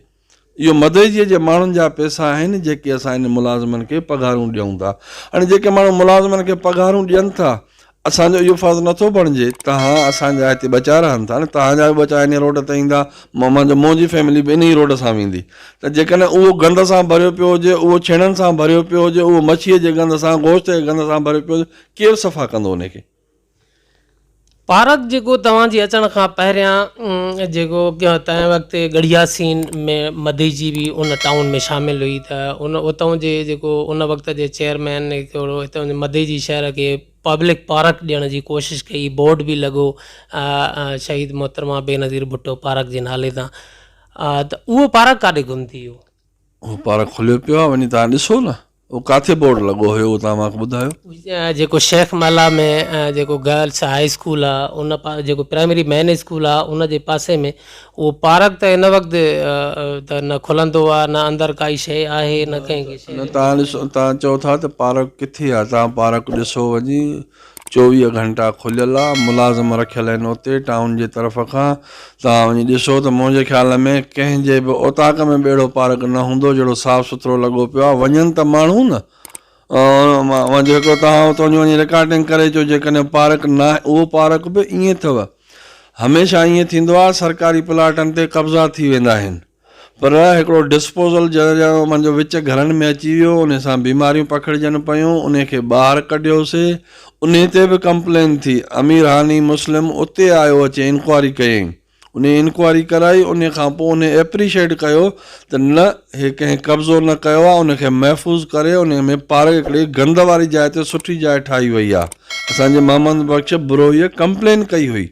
اهو مدئجي جي ماڻهن جا پئسا آهن جيڪي اسان هن ملازمن کي پگهارون ڏيئون ٿا. هاڻي جيڪي ماڻهو ملازمن کي پگهارون ڏين ٿا اسان جو اهو فرض نه ٿو بڻجي تهان اسان جا هتي ٻچا رهن ٿا نه تهان جا به ٻچا انهي روڊ تي ايندا مهمان جو منهنجي فيملي به انهي روڊ سان ويندي ته جيڪڏهن اهو گند سان ڀريو پيو هجي اهو ڇيڻن سان ڀريو پيو هجي اهو مڇيء جي گند سان گوشت جي گند سان ڀريو پيو هجي ڪير صفا ڪندو انهي کي. پارڪ جيڪو توهان جي اچڻ کان پهريان جيڪو تنهن وقت ڳڙهيا سين ۾ مدي جي به ان ٽائون ۾ شامل هئي ته ان اتئون جي جيڪو ان وقت جي چيئرمين ڪهڙو اتئون جي مدي جي شهر کي پبلڪ پارڪ ڏيڻ جي ڪوشش ڪئي بورڊ به لڳو شهيد محترمه بينظير ڀٽو پارڪ جي نالي تان ته اهو پارڪ ڪاڏي گم ٿي ويو اهو پارڪ کليو پيو آهي وڃي تهان ڏسو نه اهو ڪاٿي بورڊ لڳو هيو اهو توهان مانکي ٻڌايو. جيڪو شيخ مالها ۾ جيڪو گرلس هاء اسڪول آ ان جيڪو پرائمري مين اسڪول آ ان جي پاسي ۾ اهو پارڪ ته هن وقت ته نه کلندو آ نه اندر ڪائي شئي آهي نه ڪنهن کي شئي نه تهان ڏسو تهان چئو ٿا ته پارڪ ڪٿي آ تهان پارڪ ڏسو وڃي چوويهه گهنٽا کليل آ ملازم رکيل آهن اتي ٽائون جي طرف کان توهان وڃي ڏسو ته منهنجي خيال ۾ ڪنهن جي به اوطاق ۾ ٻيڙو پارڪ نه هوندو جهڙو صاف سٿرو لڳو پيو آ وڃن ته ماڻهو نه مان جيڪو توهان اتو جي وڃي رڪارڊنگ ڪري اچو جيڪڏهن پارڪ نه آهي اهو پارڪ به ائين اٿو هميشه ائين ٿيندو آ سرڪاري پلاٽن تي قبضا ٿي ويندا آهن. پر هڪڙو ڊسپوزل جنهن جا منجهه وچ گهرن ۾ اچي ويو انهي سان بيماريون پکڙجن پيون انهي کي ٻاهر ڪڍيوسي انهي تي به ڪمپلين ٿي امير هاني مسلم اتي آيو اچي انڪوائري ڪيائين انهي انڪوائري ڪرائي انهي کان پوء انهي ايپريشيٽ ڪيو ته نه هي ڪنهن قبضو نه ڪيو آهي انهي کي محفوظ ڪري انهي ۾ پارڪ هڪڙي گند واري جاء تي سٺي جاء ٺاهي وئي آهي اسان جي محمد بخش بروهيء ڪمپلين ڪئي هئي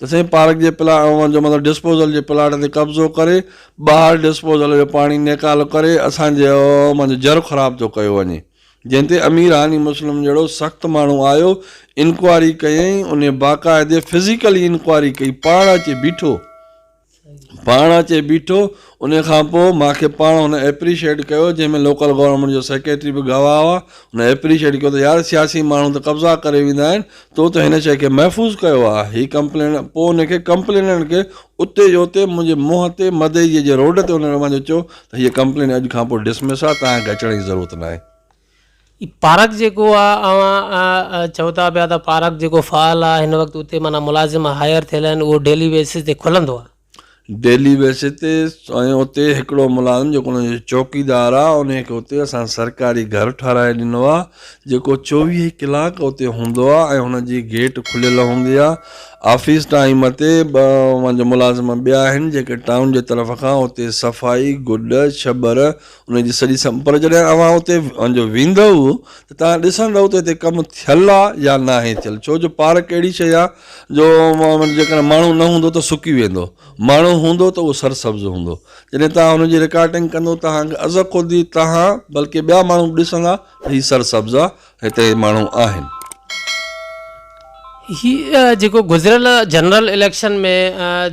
ته سائين پارڪ جي پلا اوهان جو مطلب ڊسپوزل جي پلاٽ تي قبضو ڪري ٻاهر ڊسپوزل جو پاڻي نيڪال ڪري اسان جي اوهان جو جر خراب ٿو ڪيو وڃي جنهن تي امير هاني مسلم جهڙو سخت ماڻهو آيو انڪوائري ڪيائين انهي باقاعدي فزيڪلي انڪوائري ڪئي پاڻ اچي بيٺو پاڻ اچي بيٺو انهي کان پوء مان کي پاڻ هن ايپريشيئيٽ ڪيو جنهن ۾ لوڪل گورنمينٽ جو سيڪريٽري به گواهه هئا هن ايپريشيئيٽ ڪيو ته يار سياسي ماڻهو ته قبضا ڪري ويندا آهن تو ته هن شيء کي محفوظ ڪيو آهي هي ڪمپلينٽ پوء ان کي ڪمپليننٽ کي اتي جو اتي منهنجي منهن تي مدئي جي روڊ تي ان کي مان چيو ته هيء ڪمپلينٽ اڄ کان پوء ڊسمس آهي توهان کي اچڻ جي ضرورت ناهي پارڪ جيڪو آ اوهان چئو ٿا پيا ته پارڪ جيڪو فعال آ هن وقت اتي معنيٰ ملازم هائير ٿيل آهن اهو ڊيلي بيسز تي کلندو آ؟ ڊيلي بيسز تي ۽ اتي هڪڙو ملازم جيڪو انهن جو چوڪيدار آ انهي کي اتي اسان سرڪاري گهر ٺهرائي ڏنو آ جيڪو چوويهه ڪلاڪ اتي هوندو آ ۽ هن جي گيٽ کليل هوندي آ آفيس ٽائيم تي ٻه اوهان جا ملازم ٻيا آهن جيڪي ٽائون جي طرف کان اتي صفائي گڊ ڇٻر انهن جي سڄي سم پر جڏهن اوهان اتي وڃجو ويندؤ ته توهان ڏسندؤ ته هتي ڪم ٿيل آ يا ناهي ٿيل ڇو جو پارڪ اهڙي شيء آ جو جيڪڏهن ماڻهو نه هوندو ته سڪي ويندو ماڻهو هوندو ته اهو سر سبز هوندو جڏهن توهان هن جي رڪارٽنگ ڪندؤ توهان کي از خود ئي توهان بلڪه ٻيا ماڻهو به ڏسندا ته هي سر سبز آ هتي ماڻهو آهن. هي جيڪو گذريل جنرل اليڪشن ۾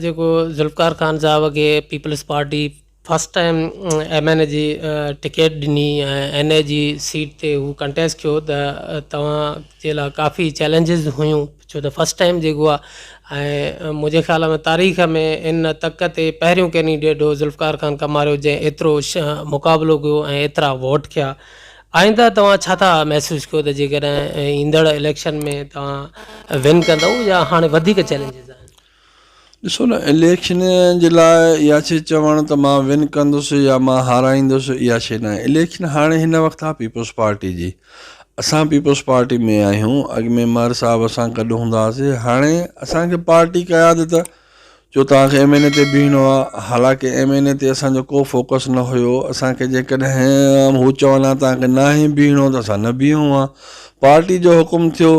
جيڪو ذوالفقار خان صاحب کي Peoples Party first time M N A جي ٽڪيٽ ڏني ۽ اين اي جي سيٽ تي هو ڪنٽيسٽ ڪيو ته توهان جي لاء ڪافي چئلينجز هيون ڇو ته فرسٽ ٽائيم جيڪو آهي ۽ منهنجي خيال ۾ تاريخ ۾ ان تڪ تي پهريون ڪينڊيڊيٽ هو ذوالفقار خان ڪماريو جنهن ايترو مقابلو ڪيو ۽ ايترا ووٽ کيا آئنده توهان ڇا ٿا محسوس ڪيو ته جيڪڏهن ايندڙ اليڪشن ۾ توهان ون ڪندو يا هاڻي وڌيڪ چئلينجز آهن ڏسو نه اليڪشن جي لاء اها شي چوڻ ته مان ون ڪندس يا مان هارائيندس اها شي ناهي اليڪشن هاڻي هن وقت آ پيپلز پارٽي جي اسان پيپلز پارٽي ۾ آهيون اڳ ۾ مهر صاحب اسان گڏ هوندا هئاسي هاڻي اسان کي پارٽي قيادت جو توهان کي ايم اين اي تي بيهڻو آ حالانڪه ايم اين اي تي اسان جو ڪو فوڪس نه هيو اسان کي جيڪڏهن هو چون ها توهان کي ناهي بيهڻو ته اسان نه بيهون ها پارٽي جو حڪم ٿيو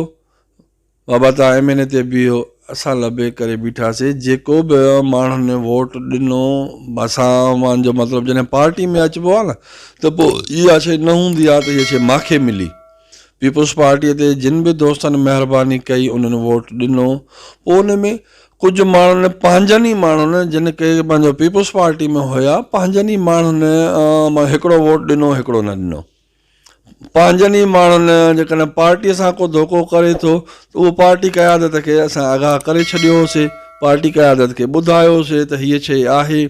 بابا توهان ايم اين اي تي بيهو اسان لبيڪ ڪري بيٺاسين جيڪو به ماڻهن ووٽ ڏنو اسان اوهان جو مطلب جڏهن پارٽي ۾ اچبو آهي نه ته پو اها شي نه هوندي آهي ته هي شي ماکي ملي پيپلز پارٽي تي جن به دوستن مهرباني ڪئي انهن ووٽ ڏنو پو ان ۾ ڪجهه ماڻهن پنهنجن ئي ماڻهن جن ڪي پنهنجو پيپلز پارٽي ۾ هيا پنهنجن ئي ماڻهن هڪڙو ووٽ ڏنو هڪڙو نه ڏنو. پنهنجن ئي ماڻهن جيڪڏهن پارٽيء سان ڪو ڌوڪو ڪري ٿو ته اهو پارٽي قيادت کي اسان آگاهه ڪري ڇڏيو هوسي، پارٽي قيادت کي ٻڌايو هوسي ته هيء شيء آهي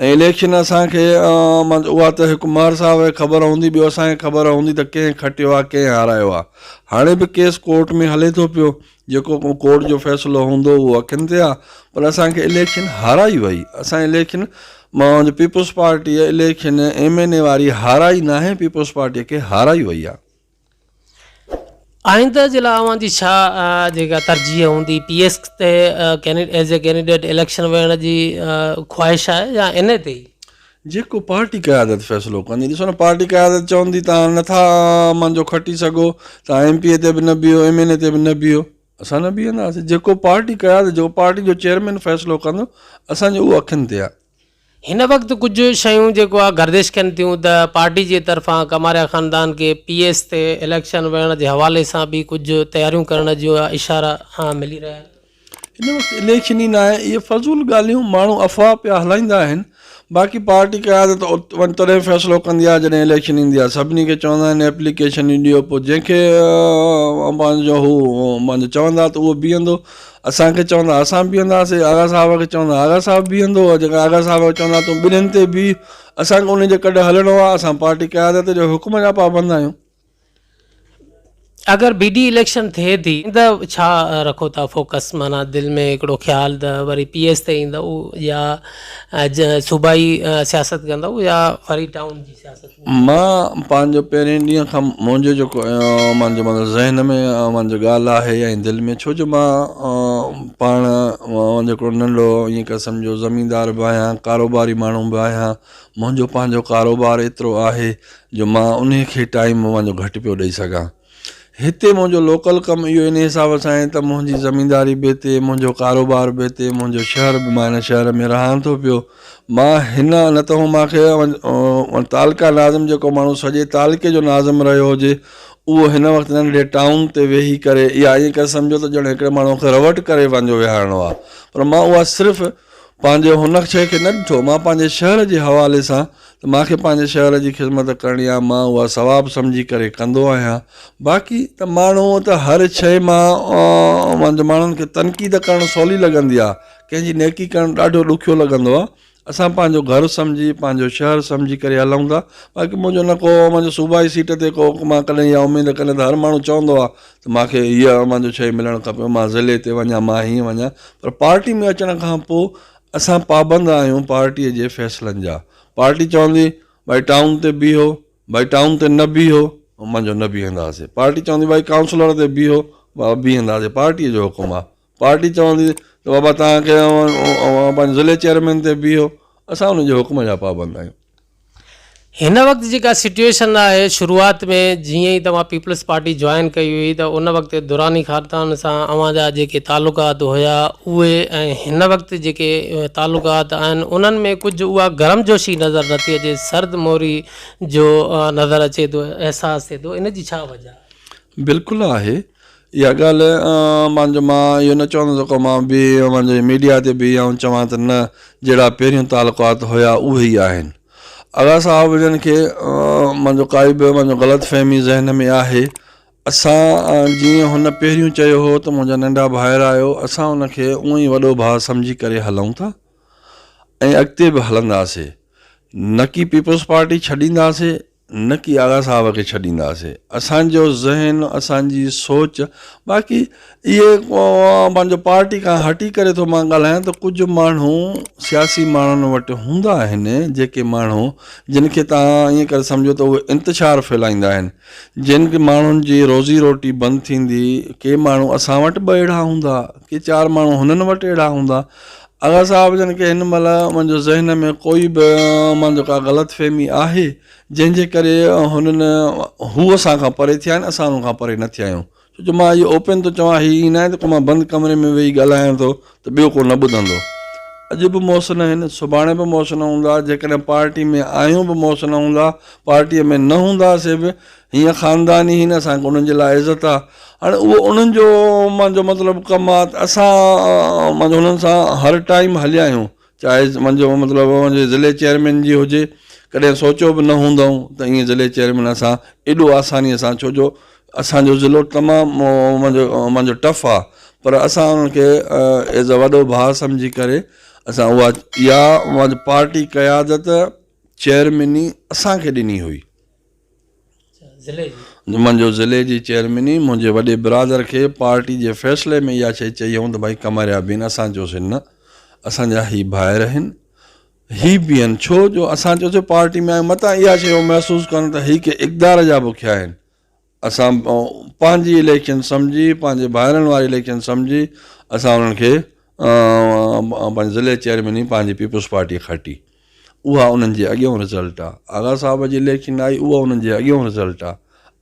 ۽ اليڪشن اسان کي اها ته هڪ ماهر صاحب کي خبر هوندي ٻيو اسان کي خبر هوندي ته ڪنهن کٽيو آهي ڪنهن هارايو آهي. هاڻي به ڪيس ڪورٽ ۾ هلي ٿو پيو جيڪو ڪو ڪورٽ جو فيصلو هوندو اهو اکين تي آ پر اسان کي اليڪشن هارائي وئي اسان اليڪشن مان Peoples Party election M N A واري هارائي ناهي پيپلز پارٽي کي هارائي وئي آ. آئنده جي لاء اوهان جي ڇا جيڪا ترجيح هوندي پي ايس تي ايز اي ڪينڊيڊيٽ اليڪشن وڙهڻ جي خواهش آهي يا ان اي تي ئي؟ جيڪو پارٽي قيادت فيصلو ڪندي. ڏسو نه پارٽي قيادت چوندي ته هاڻي نٿا امان جو کٽي سگهو ته ايم پي اي تي به نه بيهو ايم اين اي تي به نه بيهو اسان نه بيهنداسين جيڪو پارٽي قيادت جيڪو پارٽي جو چيئرمين فيصلو ڪندو اسان جو اهو اکين تي آهي. هن وقت ڪجهه شيون جيڪو آهي گردش ڪن ٿيون ته پارٽي جي طرفان ڪماريا خاندان کي پي ايس تي اليڪشن وڙهڻ جي حوالي سان به ڪجهه تياريون ڪرڻ جا اشارا ملي رهيا آهن. هن وقت اليڪشن ئي ناهي، اهي فضول ڳالهيون ماڻهو افواهه پيا هلائيندا آهن، باقي پارٽي قيادت ان تڏهن فيصلو ڪندي آهي جڏهن اليڪشن ايندي آهي، سڀني کي چوندا آهن ايپليڪيشنون ڏيو پوء جنهن کي پنهنجو هو پنهنجو چوندا ته اهو بيهندو، اسان کي چوندا اسان بيهنداسين، آغا صاحب کي چوندا آغا صاحب بيهندو، جيڪڏهن آغا صاحب کي چوندا تون ٻنهين تي بيهه، اسان کي ان جي ڪڍ هلڻو آهي، اسان پارٽي قيادت جي حڪم جا پابند آهيون. اگر بي ڊي اليڪشن ٿئي ٿي ته ڇا رکو ٿا فوڪس معنيٰ دل ۾ هڪڙو خيال ته وري پي ايس تي ايندو يا صوبائي سياست ڪندو يا وري ٽائون جي سياست. مان پنهنجو پهرين ڏينهن کان منهنجو جيڪو منهنجو مطلب ذهن ۾ منهنجو ڳالهه آهي يا دل ۾ ڇو جو مان پاڻ جيڪو ننڍو ائين ڪري سمجهو زميندار به آهيان ڪاروباري ماڻهو به آهيان منهنجو پنهنجو ڪاروبار ايترو آهي جو مان انهي کي ٽائيم پنهنجو گهٽ پيو ڏئي سگهان. هتي منهنجو لوڪل ڪم اهو انهي حساب سان آهي ته منهنجي زمينداري به هتي، منهنجو ڪاروبار به هتي، منهنجو شهر به مان هن شهر ۾ رهان ٿو پيو. مان هن نه ته هو مان کي تعلقه ناظم جيڪو ماڻهو سڄي تعلقي جو ناظم رهيو هجي اهو هن وقت ننڍي ٽائون تي ويهي ڪري يا ائين ڪري سمجهو ته ڄڻ هڪڙي ماڻهو کي رئوٽ ڪري پنهنجو ويهارڻو آهي پر مان اها صرف پنهنجي هن شي کي نه ڏٺو مان پنهنجي شهر جي حوالي سان ته مان کي پنهنجي شهر جي خدمت ڪرڻي آهي، مان اها ثواب سمجهي ڪري ڪندو آهيان، باقي ته ماڻهو ته هر شيء مان وند ماڻهن کي تنقيد ڪرڻ سولي لڳندي آهي، ڪنهن جي نيڪي ڪرڻ ڏاڍو ڏکيو لڳندو آهي، اسان پنهنجو گهر سمجهي، پنهنجو شهر سمجهي ڪري هلون ٿا، باقي منهنجو نه ڪو منهنجي صوبائي سيٽ تي ڪو مان ڪڏهن اها اميد ڪڏهن ته هر ماڻهو چوندو آهي ته مان کي هيء شيء ملڻ کپي، مان ضلعي تي وڃان، مان هيئن وڃان، پر پارٽي ۾ اچڻ کانپوء اسان پابند آهيون پارٽيء جي فيصلن جا. پارٽي چوندي ڀائي ٽائون تي بيهو، ڀائي ٽائون تي نه بيهو، منجهو نه بيهنداسين. پارٽي چوندي ڀائي ڪائونسلر تي بيهو، بابا بيهنداسين، پارٽيء جو حڪم آهي. پارٽي چوندي ته بابا توهان کي اوهان پنهنجي ضلعي چيئرمين تي بيهو، اسان ان جي حڪم جا پابند آهيون. هن وقت جيڪا سچوئيشن آهي شروعات ۾ جيئن ئي توهان پيپلز پارٽي جوائن ڪئي هئي ته ان وقت دراني خاندان سان اوهان جا جيڪي تعلقات هيا اهي ۽ هن وقت جيڪي تعلقات آهن انهن ۾ ڪجهه اها گرم جوشي نظر نٿي اچي سرد موري جو نظر اچي ٿو احساس ٿئي ٿو ان جي ڇا وجهه آهي؟ بلڪل آهي اها ڳالهه مان جو مان اهو نه چوندس ڪو مان به اوهان جي ميڊيا تي به آئون چوان ته نه جهڙا پهريون تعلقات هيا اهي ئي آهن آغا صاحب جن کي مان جو ڪائي به مان جو غلط فهمي ذهن ۾ آهي اسان جيئن هن پهريون چيو هو ته منهنجا ننڍا ڀائر آهيو اسان ان کي اونء ئي وڏو ڀاء سمجهي ڪري هلون ٿا ۽ اڳتي به هلنداسي نه ڪي پيپلز پارٽي ڇڏينداسي نڪي آغا صاحب کي ڇڏينداسي اسان جو ذهن اسان جي سوچ باقي اهي پنهنجو پارٽي کان هٽي ڪري ٿو مان ڳالهايان ته ڪجهه ماڻهو سياسي ماڻهن وٽ هوندا آهن جيڪي ماڻهو جن کي تان ائين ڪري سمجهو ته اهي انتشار ڦهلائيندا آهن جن کي ماڻهن جي روزي روٽي بند ٿيندي ڪي ماڻهو اسان وٽ به اهڙا هوندا ڪي چار ماڻهو هنن وٽ اهڙا هوندا آغا صاحب جن کي هن مهل منهنجو ذهن ۾ ڪوئي به مان جو ڪا غلط فهمي آهي جنهن جي ڪري هنن هو اسان کان پري ٿيا آهن اسان هنن کان پري نه ٿيا آهيون ڇو جو مان اهو اوپين ٿو چوان هي ائين ناهي ته ڪو مان بند ڪمري ۾ ويهي ڳالهايان ٿو ته ٻيو ڪو نه ٻڌندو اڄ به موس نه هن سڀاڻي به موس نه هوندا جيڪڏهن پارٽي ۾ آهيون به موس نه هوندا پارٽي ۾ نه هوندا سي به هيء خاندان ئي هن اسان انهن جي لاء عزت آ هاڻي اهو انهن جو مانجو مطلب ڪم آ ته اسان مانجو انهن سان هر ٽائيم هليا آهيون چاهي مانجو مطلب ضلعي چيئرمين جي هجي ڪڏهن سوچيو به نه هوندائون ته ائين ضلعي چيئرمين اسان ايڏو آسانيء سان ڇو جو اسان جو ضلعو تمام مانجو مانجو ٽف آ پر اسان انهن کي ايز اي وڏو ڀاء سمجهي ڪري اسان اها اها مانجو پارٽي قيادت چيئرميني اسان کي ڏني هئي جمن جو ضلعي جي چيئرميني منهنجي وڏي برادر کي پارٽي جي فيصلي ۾ اها شيء چئي هئم ته ڀائي قمريا بين اسان چيوسين نه اسان جا هي ڀائر آهن هي بين ڇو جو اسان چيوسين پارٽي ۾ آيون متان اها شيء هو محسوس ڪن ته هي ڪي اقدار جا بکيا آهن اسان پنهنجي اليڪشن سمجهي پنهنجي ڀائرن واري اليڪشن سمجهي اسان انهن کي پنهنجي ضلعي چيئرميني پنهنجي پيپلز پارٽي کٽي اها انهن جي اڳيون رزلٽ آ. آغا صاحب جي اليڪشن آئي اها انهن جي اڳيون رزلٽ آ.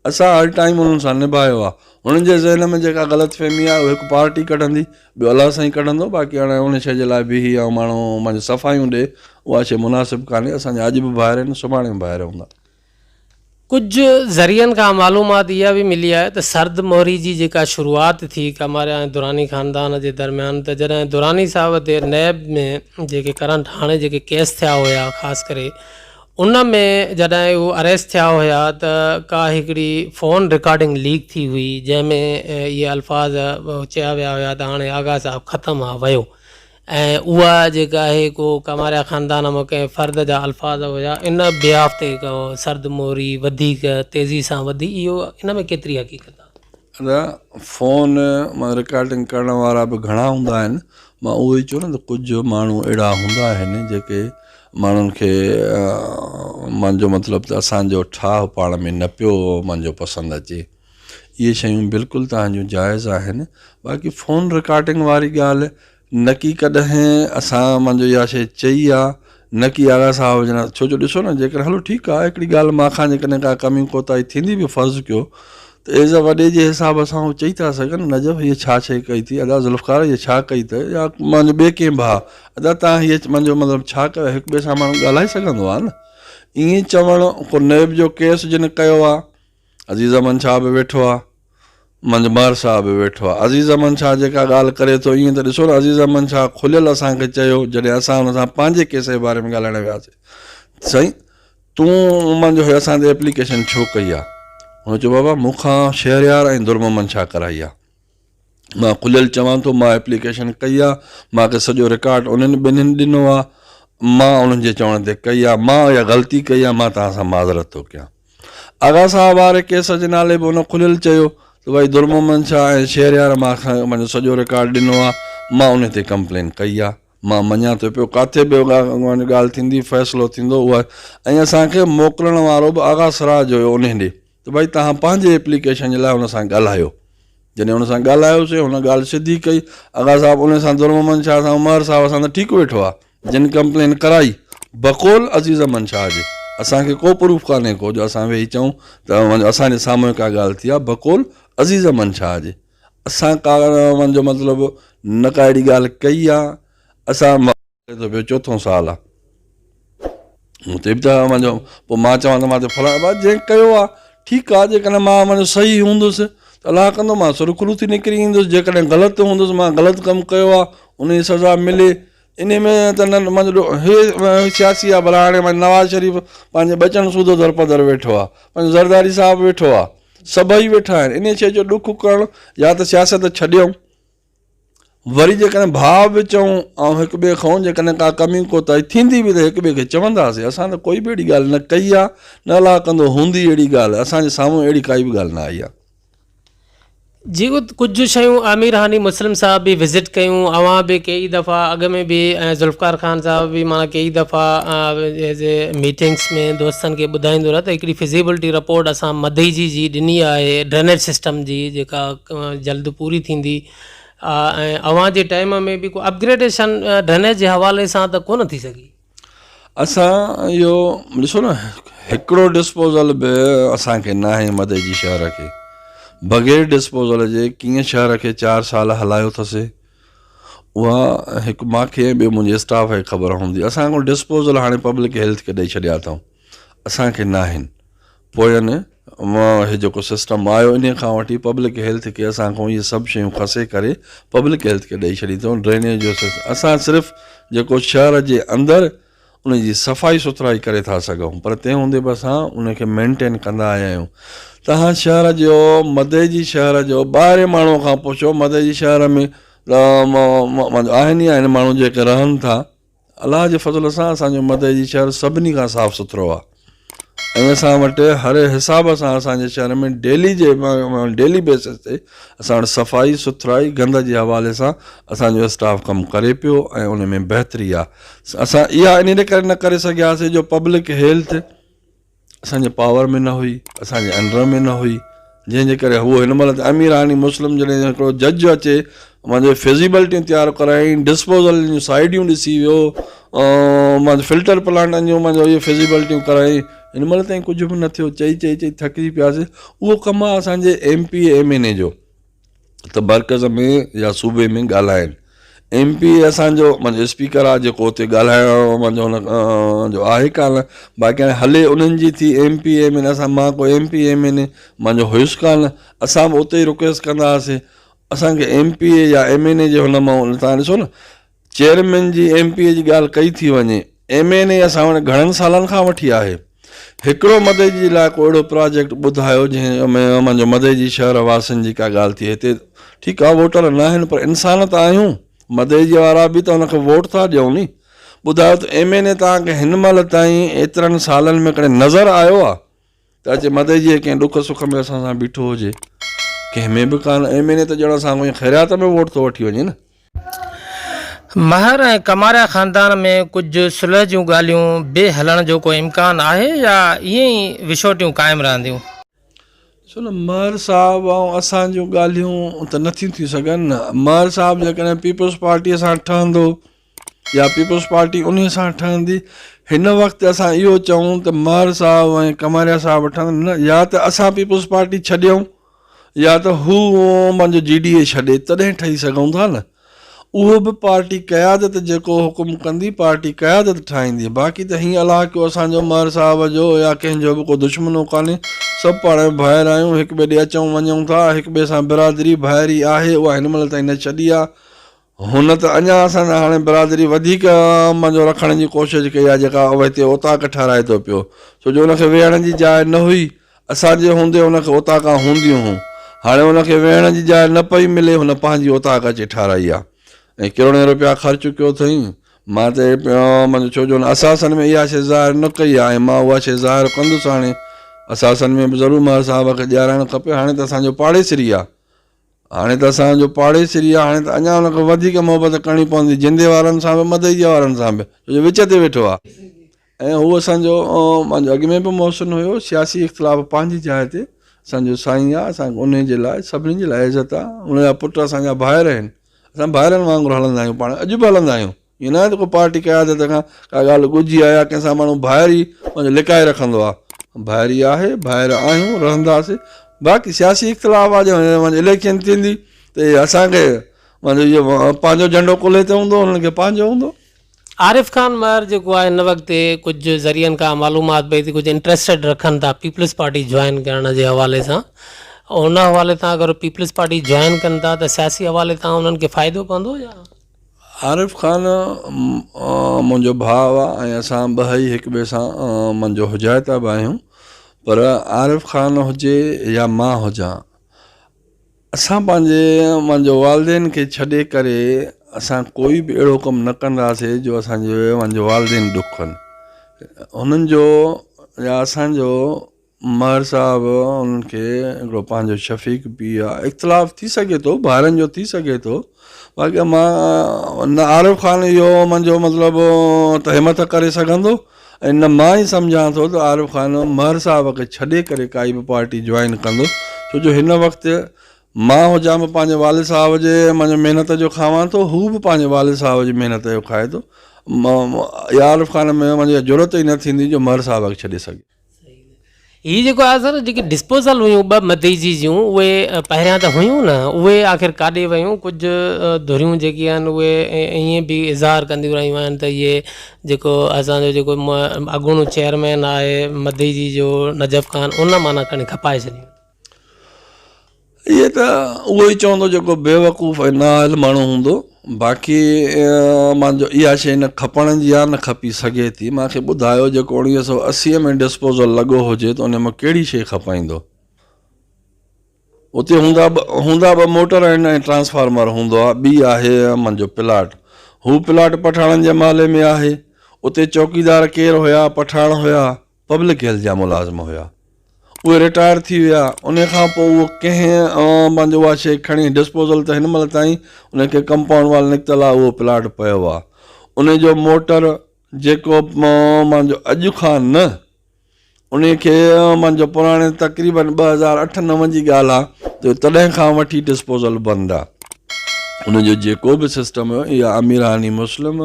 اسان هر ٽائيم انهن سان نڀايو آ. هنن جي ذهن ۾ جيڪا غلط فهمي آ اهو هڪ پارٽي ڪڍندي ٻيو الله سائين ڪڍندو باقي هاڻي ان شيء جي لاء بيهي ۽ ماڻهو پنهنجون صفايون ڏي اها شيء مناسب ڪانهي. اسان جا اڄ به ڀائر آهن سڀاڻي به ڀائر هوندا. ڪجهه ذريعن کان معلومات اها به ملي آهي ته سرد مهري جي جيڪا شروعات ٿي ڪاماريا ۽ دراني خاندان جي درميان ته جڏهن دراني صاحب تي نيب ۾ جيڪي ڪرنٽ هاڻي جيڪي ڪيس ٿيا هيا خاص ڪري ان ۾ جڏهن هو اريسٽ ٿيا هيا ته ڪا هڪڙي فون رڪارڊنگ ليڪ ٿي هئي جنهن ۾ اهي الفاظ چيا ويا هيا ته هاڻي آغا صاحب ختم آ ويو ۽ اها جيڪا آهي ڪو ڪماريا خاندان مان ڪنهن فرد جا الفاظ هيا ان بياف تي ڪو سرد موري وڌيڪ تيزي سان وڌي اهو ان ۾ ڪيتري حقيقت آهي؟ نه فون مان رڪارڊنگ ڪرڻ وارا به گهڻا هوندا آهن مان اهو ئي چيو نه ته ڪجهه ماڻهو اهڙا هوندا آهن جيڪي ماڻهن کي مانجو مطلب ته اسانجو ٺاهه پاڻ ۾ نه پيو مانجو پسند اچي اهي شيون بلڪل توهان جون جائز آهن باقي فون رڪارڊنگ واري ڳالهه نه ڪي ڪڏهن اسان منجهه اها شي چئي آ نه ڪي آغا صاحب جن ڇو جو ڏسو نه جيڪر هلو ٺيڪ آ هڪڙي ڳالهه مان کان جيڪڏهن ڪا ڪمي ڪوتاهي ٿيندي به فرض ڪيو ته ايز اي وڏي جي حساب سان هو چئي ٿا سگهن نجف هيء ڇا شي ڪئي ٿي ادا ذوالفقار هيء ڇا ڪئي ته يا منجهه ٻي ڪنهن ڀاء ادا تان هيء منجهه مطلب ڇا ڪيو هڪ ٻئي سان ماڻهو ڳالهائي سگهندو آ نه ائين چوڻ ڪو نيب جو ڪيس جن ڪيو آ عزيز احمد شاهه به ويٺو آ منجهه مهر شاهه به ويٺو آ عزيز احمد شاهه جيڪا ڳالهه ڪري ٿو ائين ته ڏسو نه عزيز احمد شاهه کليل اسان کي چيو جڏهن اسان هن سان پنهنجي ڪيس جي باري ۾ ڳالهائڻ وياسي سائين تون منجهه هيو اسان تي ايپليڪيشن ڇو ڪئي آ هن چيو بابا مون کان شهريار ۽ درمحمد شاهه ڪرائي آ مان کليل چوان ٿو مان ايپليڪيشن ڪئي آ مان کي سڄو رڪارڊ انهن ٻنهين ڏنو آ مان انهن جي چوڻ تي ڪئي آ مان اها غلطي ڪئي آ مان توهان سان معذرت ٿو ڪيان آغا صاحب واري ڪيس جي نالي به ان کليل چيو ته ڀائي درمحمد شاهه ۽ شهريار مان کي پنهنجو سڄو رڪارڊ ڏنو آ مان انهي تي ڪمپلين ڪئي آ مان مڃان ٿو پيو ڪاٿي به ڳالهه ٿيندي فيصلو ٿيندو اها ۽ اسان کي موڪلڻ وارو به آغا سراج هيو انهي ڏي ته ڀائي توهان پنهنجي ايپليڪيشن جي لاء هن سان ڳالهايو. جڏهن هن سان ڳالهايوسين، هن ڳالهه سڌي ڪئي. آغا صاحب انهي سان درمحمد شاهه سان عمار صاحب سان ته ٺيڪ ويٺو آ، جن ڪمپلين ڪرائي، بقول عزيزمحمد شاهه جي، اسان کي ڪو پروف ڪانهي ڪو جو اسان ويهي چئون ته اسان جي سامهون ڪا ڳالهه ٿي آ، بقول عزيزمحمد شاهه جي، اسان ڪا جو مطلب نه ڪا اهڙي ڳالهه ڪئي آ، اسان. هي ته ٻيو چوٿون سال آ مون تي به ته اوهان جو پوء مان چوان ته مان تي فلاڻ ڀلا جنهن ڪيو آ ٺيڪ آ جيڪڏهن مان اوهان جو صحيح هوندس ته الله ڪندو مان سرخرو ٿي نڪري ايندس جيڪڏهن غلط هوندس مان غلط ڪم ڪيو آ ان جي سزا ملي انهي ۾ ته نه مان جو هي سياسي آ ڀلا هاڻي مان نواز شريف پنهنجي ٻچن سوڌو در پري در ويٺو آ پنهنجو زرداري صاحب ويٺو آ سڀئي ويٺا آهن انهي شيء جو ڏک ڪرڻ يا ته سياست ڇڏيون وري جيڪڏهن ڀاء به چئون ۽ هڪ ٻئي کئون، جيڪڏهن ڪا ڪمي ڪوتاهي ٿيندي به ته هڪ ٻئي کي چونداسين. اسان ته ڪوئي به اهڙي ڳالهه نه ڪئي آهي، نه الاء ڪندو هوندي اهڙي ڳالهه، اسان جي سامهون اهڙي ڪائي به ڳالهه نه آئي آهي. جي ڪجهه شيون عامر هاني مسلم صاحب به وزٽ ڪيون، اوهان به ڪيئي دفعا اڳ ۾ به ۽ ذوالفقار خان صاحب به معنيٰ ڪيئي دفعا ايز اي ميٽنگس ۾ دوستن کي ٻڌائيندو رهي ته هڪڙي فزيبلٽي رپورٽ اسان مدئي جي جي ڏني آهي ڊرينيج سسٽم جي جيڪا جلد پوري ٿيندي ۽ اوهان جي ٽائيم ۾ به ڪو اپگريڊيشن ڊرينيج جي حوالي سان ته ڪونه ٿي سگهي. اسان اهو ڏسو نه هڪڙو ڊسپوزل به اسان کي ناهي مدئي جي شهر کي بغير ڊسپوزل جي ڪيئن شهر کي چار سال هلايو ٿسي اها هڪ ماکي ۽ ٻيو منهنجي اسٽاف کي خبر هوندي اسان ڪو ڊسپوزل هاڻي پبلڪ هيلٿ کي ڏئي ڇڏيا اٿئون. اسان کي ناهن پوين مان هي جيڪو سسٽم آيو انهي کان وٺي پبلڪ هيلٿ کي اسان کان اهي سڀ شيون کسي ڪري پبلڪ هيلٿ کي ڏئي ڇڏي اٿئون ڊرينيج جو سسٽم اسان صرف جيڪو شهر جي اندر ان جي صفائي سٿرائي ڪري ٿا سگهون پر تنهن هوندي به اسان ان کي مينٽين ڪندا آيا آهيون تهان شهر جو مدئي جي شهر جو ٻاهرين ماڻهو کان پڇو مدئي جي شهر ۾ آهن ئي آهن ماڻهو جيڪي رهن ٿا الله جي فضل سان اسان جو مدئي جي شهر سڀني کان صاف سٿرو آ ۽ اسان وٽ هر حساب سان اسان جي شهر ۾ ڊيلي جي ڊيلي بيسس تي اسان وٽ صفائي سٿرائي گند جي حوالي سان اسان جو اسٽاف ڪم ڪري پيو ۽ ان ۾ بهتري آ اسان اها ان ڪري نه ڪري سگهياسي جو پبلڪ هيلٿ اسان جي پاور ۾ نه هئي اسان جي انڊر ۾ نه هئي جنهن جي ڪري هو هن مهل امير هاني مسلم جڏهن هڪڙو جج اچي مانجي فزيبلٽي تيار ڪرايائين ڊسپوزل جون سائيڊيون ڏسي ويو مانجو فلٽر پلانٽ جو مانجو اهي فزيبلٽيون ڪرايائين هن مهل تائين ڪجهه به نه ٿيو چئي چئي چئي ٿڪجي پياسي اهو ڪم آهي اسان جي M P M N A جو ته مرڪز ۾ يا صوبي ۾ ڳالهائين. ايم پي اي اسان جو اسپيڪر آ جيڪو اتي ڳالهائڻ جو آهي ڪانه باقي هاڻي هلي انهن جي ٿي ايم پي اي ۾ اسان مان ڪو M P A M N A مان جو هيس ڪانه اسان به اتي ئي رڪويسٽ ڪندا هئاسين اسان کي ايم پي اي يا ايم اين اي جي هن مان تهان ڏسو نه چيئرمين جي ايم پي اي جي ڳالهه ڪئي ٿي وڃي، ايم اين اي اسان وٽ گهڻن سالن کان وٺي آهي. هڪڙو مدئجي جي لاء ڪو اهڙو پراجيڪٽ ٻڌايو جنهن ۾ جو مدئجي شهر واسين جي ڪا ڳالهه ٿئي. هتي ٺيڪ آ ووٽر ناهن پر انسان ته آهيون، مدئجي وارا به ته ان کي ووٽ ٿا ڏيون ني. ٻڌايو ته ايم اين اي توهان کي هن مهل تائين ايترن سالن ۾ ڪڏهن نظر آيو آ؟ ته اچي مدئي جي ڪنهن ڏک سک ۾ اسان سان بيٺو هجي. ڪنهن ۾ به ڪانه. ايم اين اي ته ڄڻ اسان کان خيريات ۾ ووٽ ٿو وٺي وڃي نه. مهر ۽ ڪماريا خاندان ۾ ڪجهه صلح جون ڳالهيون به هلڻ جو ڪو امڪان آهي يا ائين ئي وڇوٽيون قائم رهنديون؟ ڏسو نه مهر صاحب ۽ اسان جون ڳالهيون ته نٿيون ٿي سگهن نه. مهر صاحب جيڪڏهن پيپلز پارٽيء سان ٺهندو. يا پيپلز پارٽي انهي سان ٺهندي؟ هن وقت اسان اهو چئون ته مهر صاحب ۽ ڪماريا صاحب ٺهن نه يا ته اسان پيپلز پارٽي ڇڏيون يا ته هو پنهنجو جي ڊي اي ڇڏي تڏهن ٺهي سگهون ٿا نه اهو به پارٽي قيادت جيڪو حڪم ڪندي پارٽي قيادت ٺاهيندي باقي ته هيئن الله ڪيو اسان جو مهر صاحب جو يا ڪنهن جو به ڪو دشمنو ڪانهي سڀ پاڻ ۾ ڀائر آهيون هڪ ٻئي ڏي اچون وڃون ٿا هڪ ٻئي سان برادري ڀائري آهي اها هن مهل تائين نه ڇڏي آهي هن ته اڃا اسان جا هاڻي برادري وڌيڪ عام جو رکڻ جي ڪوشش ڪئي آهي جيڪا اهو هتي اوطاق ٺهرائي ٿو پيو ڇو جو ان کي ويهڻ جي جاء نه هئي اسان جي هوندي ان کي اوطاقان هونديون هون هاڻي ان کي ويهڻ جي جاء نه پئي ملي هن پنهنجي اوطاق اچي ٺهرائي آهي ۽ ڪروڙين روپيا خرچ ڪيو اٿئين مان ته اهي پيو منجهه ڇو جو هن اثاثن ۾ اها شيء ظاهر نه ڪئي آهي ۽ مان اها شيء ظاهر ڪندس هاڻي اثاثن ۾ به ضرور مهر صاحب کي ڏيارائڻ کپي هاڻي ته اسان جو پاڙيسري آهي هاڻي ته اسان جو پاڙيسري آ، هاڻي ته اڃا ان کان وڌيڪ محبت ڪرڻي پوندي، جندي وارن سان به مدئجي وارن سان به، ڇو جو وچ تي ويٺو آ. ۽ هو اسان جو مان جو اڳ ۾ به محسن هيو، سياسي اختلاف پنهنجي جاء تي، اسان جو سائين آ، اسان کي انهي جي لاء سڀني جي لاء عزت آ، ان جا پٽ اسان جا ڀائر آهن، اسان ڀائرن وانگر هلندا آهيون پاڻ اڄ به هلندا آهيون. ائين ناهي ته ڪو پارٽي قيادت کان ڪا ڳالهه ڳجهي آهي يا ڪنهن سان ماڻهو ڀائري پنهنجو لڪائي رکندو آهي. ڀائري آهي، ڀائر آهيون، رهنداسين. باقي سياسي اختلاف آهي جڏهن وڃي اليڪشن ٿيندي ته اهي اسان کي پنهنجو جهنڊو ڪلهي تي هوندو انهن کي پنهنجو هوندو. عارف خان مهر جيڪو آهي هن وقت ڪجهه ذريعن کان معلومات پئي ٿي ڪجهه انٽرسٽيڊ رکن ٿا پيپلز پارٽي جوائن ڪرڻ جي حوالي سان ان حوالي سان اگر پيپلز پارٽي جوائن ڪن ٿا ته سياسي حوالي تان انهن کي فائدو پوندو يا عارف خان منهنجو ڀاء آ ۽ اسان ٻهئي هڪ ٻئي سان منجهه حجائتا به آهيون پر عارف خان هجي يا مان هجان اسان پنهنجي منهنجو والدين کي ڇڏي ڪري اسان ڪوئي به اهڙو ڪم نه ڪنداسي جو اسانجو منهنجو والدين ڏک ڪن هنن جو يا اسانجو مهر صاحب انهن کي هڪڙو پنهنجو شفيق به آ اختلاف ٿي سگهي ٿو ڀائرن جو ٿي سگهي ٿو باقي مان نه عارف خان اهو منهنجو مطلب ته همٿ ڪري سگهندو ۽ نه مان ئي سمجهان ٿو ته عارف خان مهر صاحب کي ڇڏي ڪري ڪائي به پارٽي جوائن ڪندو ڇو جو هن وقت مان هجان به پنهنجي والد صاحب جي منهنجو محنت جو کاوان ٿو هو به پنهنجي والد صاحب جي محنت جو کائي ٿو عارف خان ۾ منهنجي جرت ئي نه ٿيندي جو مهر صاحب کي ڇڏي سگهي هي جيڪو آهي سر جيڪي ڊسپوزل هيون ٻه مديجي جون اهي پهريان ته هيون نه اهي آخر ڪاڏي ويون ڪجهه ڌريون جيڪي آهن اهي ائين به اظهار ڪنديون رهيون آهن ته اهي جيڪو اسانجو جيڪو اڳوڻو چيئرمين آهي مديجي جو نجف خان ان معنيٰ کڻي کپائي ڇڏيون اهي ته اهو ئي چوندو جيڪو بيوقوف ۽ نااهل ماڻهو هوندو باقي مان جو اها شيء نه کپڻ جي آهي نه کپي سگهي ٿي مان کي ٻڌايو جيڪو اڻويهه سؤ اسي ۾ ڊسپوزل لڳو هجي ته ان مان ڪهڙي شيء کپائيندو اتي هوندا هوندا ٻه موٽر آهن ۽ ٽرانسفارمر هوندو آهي ٻي آهي منهنجو پلاٽ هو پلاٽ پٺاڻن جي محلي ۾ آهي اتي چوڪيدار ڪير هيا پٺاڻ هيا پبلڪ هيلٿ جا ملازم هيا. اهي رٽائر ٿي ويا. انهيء کان پوء اهو ڪنهن عوام پنهنجو اها شيء کڻي ڊسپوزل ته هن مهل تائين انهيء کي ڪمپائونڊ وال نڪتل آهي اهو پلاٽ پيو آهي. انهيء جو موٽر جيڪو پنهنجو اڄ کان نه انهيء کي پنهنجو پراڻي تقريباً ٻه هزار اٺ نو جي ڳالهه آهي جو تڏهن کان وٺي ڊسپوزل بند آهي. انهيء جو جيڪو به سسٽم هيو يا اميراني مسلم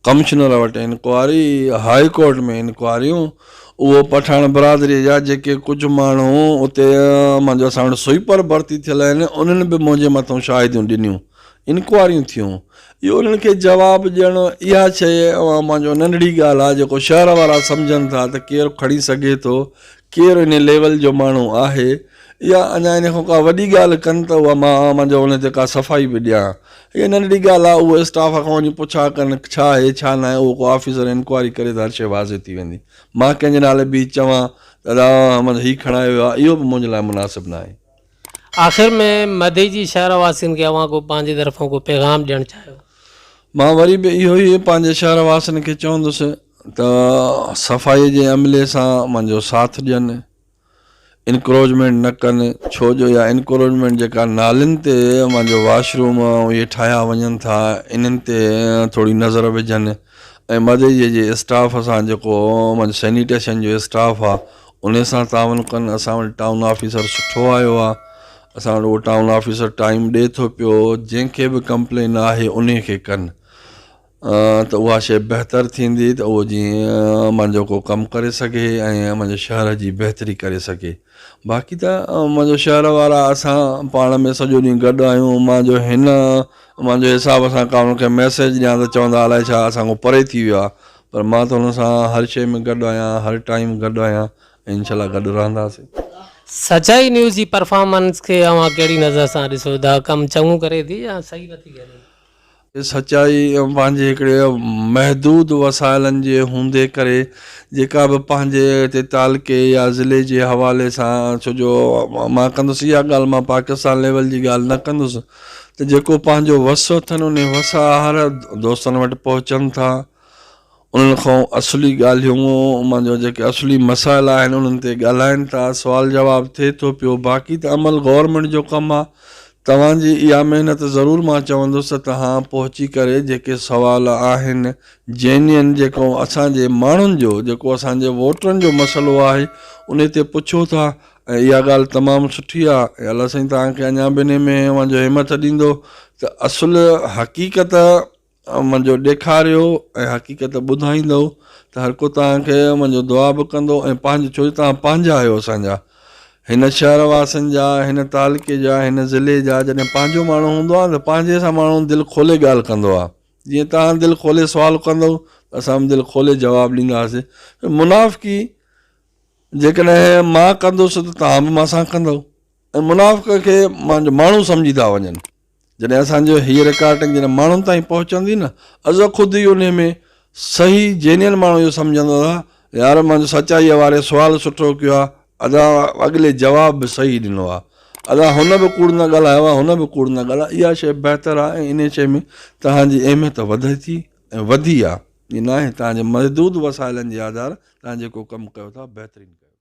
ڪمشنر وٽ انڪوائري، هاء ڪورٽ ۾ انڪوائريون، اهو پٺاڻ برادريء جا جيڪي ڪجهه ماڻهو اتي منهنجو اسان وٽ سوئيپر ڀرتي ٿيل آهن، انهن به منهنجي مٿئون شاهديون ڏنيون، انڪوائريون ٿيون. اهو انهن کي جواب ڏيڻ هو. اها شيء اوهان منهنجو ننڍڙي ڳالهه آهي، جيڪو شهر وارا سمجهن ٿا ته ڪير کڻي سگهي ٿو، ڪير انهي ليول جو ماڻهو آهي يا اڃا انهي کان ڪا وڏي ڳالهه ڪن ته اها مان منهنجو ان تي ڪا صفائي به ڏيان. اها ننڍڙي ڳالهه آهي، اهو اسٽاف کان وڃي پڇا ڪن ڇا آهي ڇا ناهي، اهو ڪو آفيسر انڪوائري ڪري ته هر شيء واضح ٿي ويندي. مان ڪنهن جي نالي بيهي چوان ته ادا احمد هي کڻائي ويو آهي، اهو به منهنجي لاء مناسب ناهي. آخر ۾ مدي جي شهر واسين کي اوهان ڪو پنهنجي طرفان ڪو پيغام ڏيڻ چاهيو؟ مان وري به اهو ئي پنهنجي شهر واسين کي چوندس ته صفائي جي عملي سان منهنجو ساٿ ڏين. انڪروچمينٽ نه ڪن ڇو جو اها انڪروچمينٽ جيڪا نالين تي اوهان جو واش روم اهي ٺاهيا وڃن ٿا انهن تي ٿوري نظر وجهن ۽ مدئجي جي اسٽاف سان جيڪو اوهان جو سينيٽيشن جو اسٽاف آهي انهي سان تعاون ڪن اسان وٽ ٽائون آفيسر سٺو آيو آهي اسان وٽ اهو ٽائون آفيسر ٽائيم ڏي ٿو پيو جنهن کي به ڪمپلين آهي انهي کي ڪن ته اها شيء بهتر ٿيندي ته اهو جيئن منهنجو ڪو ڪم ڪري سگهي ۽ منهنجي شهر جي بهتري ڪري سگهي باقي ته منهنجو شهر وارا اسان پاڻ ۾ سڄو ڏينهن گڏ آهيون مان جو هن مان جو حساب سان ڪا ان کي ميسيج ڏيان ته چوندا الائي ڇا اسان کان پري ٿي ويو آهي پر مان ته هن سان هر شيء ۾ گڏ آهيان هر ٽائيم گڏ آهيان ۽ انشاء الله گڏ رهنداسين سچائي نيوز جي پرفارمنس کي اوهان ڪهڙي نظر سان ڏسو ٿا ڪم چڱو ڪري ٿي يا صحيح نٿي ڪري سچائي پنهنجي هڪڙي محدود وسائلن جي هوندي ڪري جيڪا به پنهنجي هتي تعلقي يا ضلعي جي حوالي سان ڇو جو مان ڪندس اها ڳالهه مان پاڪستان ليول جي ڳالهه نه ڪندس ته جيڪو پنهنجو وس اٿن انهي وس آهر دوستن وٽ پهچن ٿا انهن کان اصلي ڳالهيون مان جو جيڪي اصلي مسائل آهن انهن تي ڳالهائين ٿا سوال جواب ٿئي ٿو پيو باقي ته عمل گورنمينٽ جو ڪم آ توهان جي اها محنت ضرور مان چوندس ته توهان پهچي ڪري جيڪي سوال آهن جينين جيڪو اسان جي ماڻهن جو جيڪو اسان جي ووٽرن جو مسئلو آهي انهي تي پڇو ٿا ۽ اها ڳالهه تمام سٺي آ ۽ الله سائين توهان کي اڃا به انهي ۾ اوهان جو همٿ ڏيندو ته اصل حقيقت امن جو ڏيکاريو ۽ حقيقت ٻڌائيندؤ ته هر ڪو توهان کي امن جو دعا به ڪندو ۽ پنهنجو ڇو جو توهان پنهنجا آهيو اسان جا هن شهر واسين جا هن تعلقي جا هن ضلعي جا جڏهن پنهنجو ماڻهو هوندو آهي ته پنهنجي سان ماڻهو دل کولي ڳالهه ڪندو آهي جيئن توهان دل کولي سوال ڪندؤ ته اسان به دل کولي جواب ڏينداسين منافقي جيڪڏهن مان ڪندس ته توهان به مان سان ڪندؤ ۽ منافق کي مانجو ماڻهو سمجهي ٿا وڃن جڏهن اسان جو هيء رڪارڊنگ جڏهن ماڻهن تائين پهچندي نه ازو خود ئي انهي ۾ صحيح جينين ماڻهو اهو سمجهندا ته يار مان جو سچائيء واري سوال سٺو ڪيو آهي ادا اڳلي جواب به صحيح ڏنو آهي ادا هن به ڪوڙ نه ڳالهايو آهي هن به ڪوڙ نه ڳالهايو اها شيء بهتر آهي ۽ انهي شيء ۾ توهان جي اهميت وڌي ٿي ۽ وڌي آهي ائين ناهي توهان جي محدود وسائلن جي آڌار توهان جيڪو ڪم ڪيو ٿا بهترين ڪيو ٿا.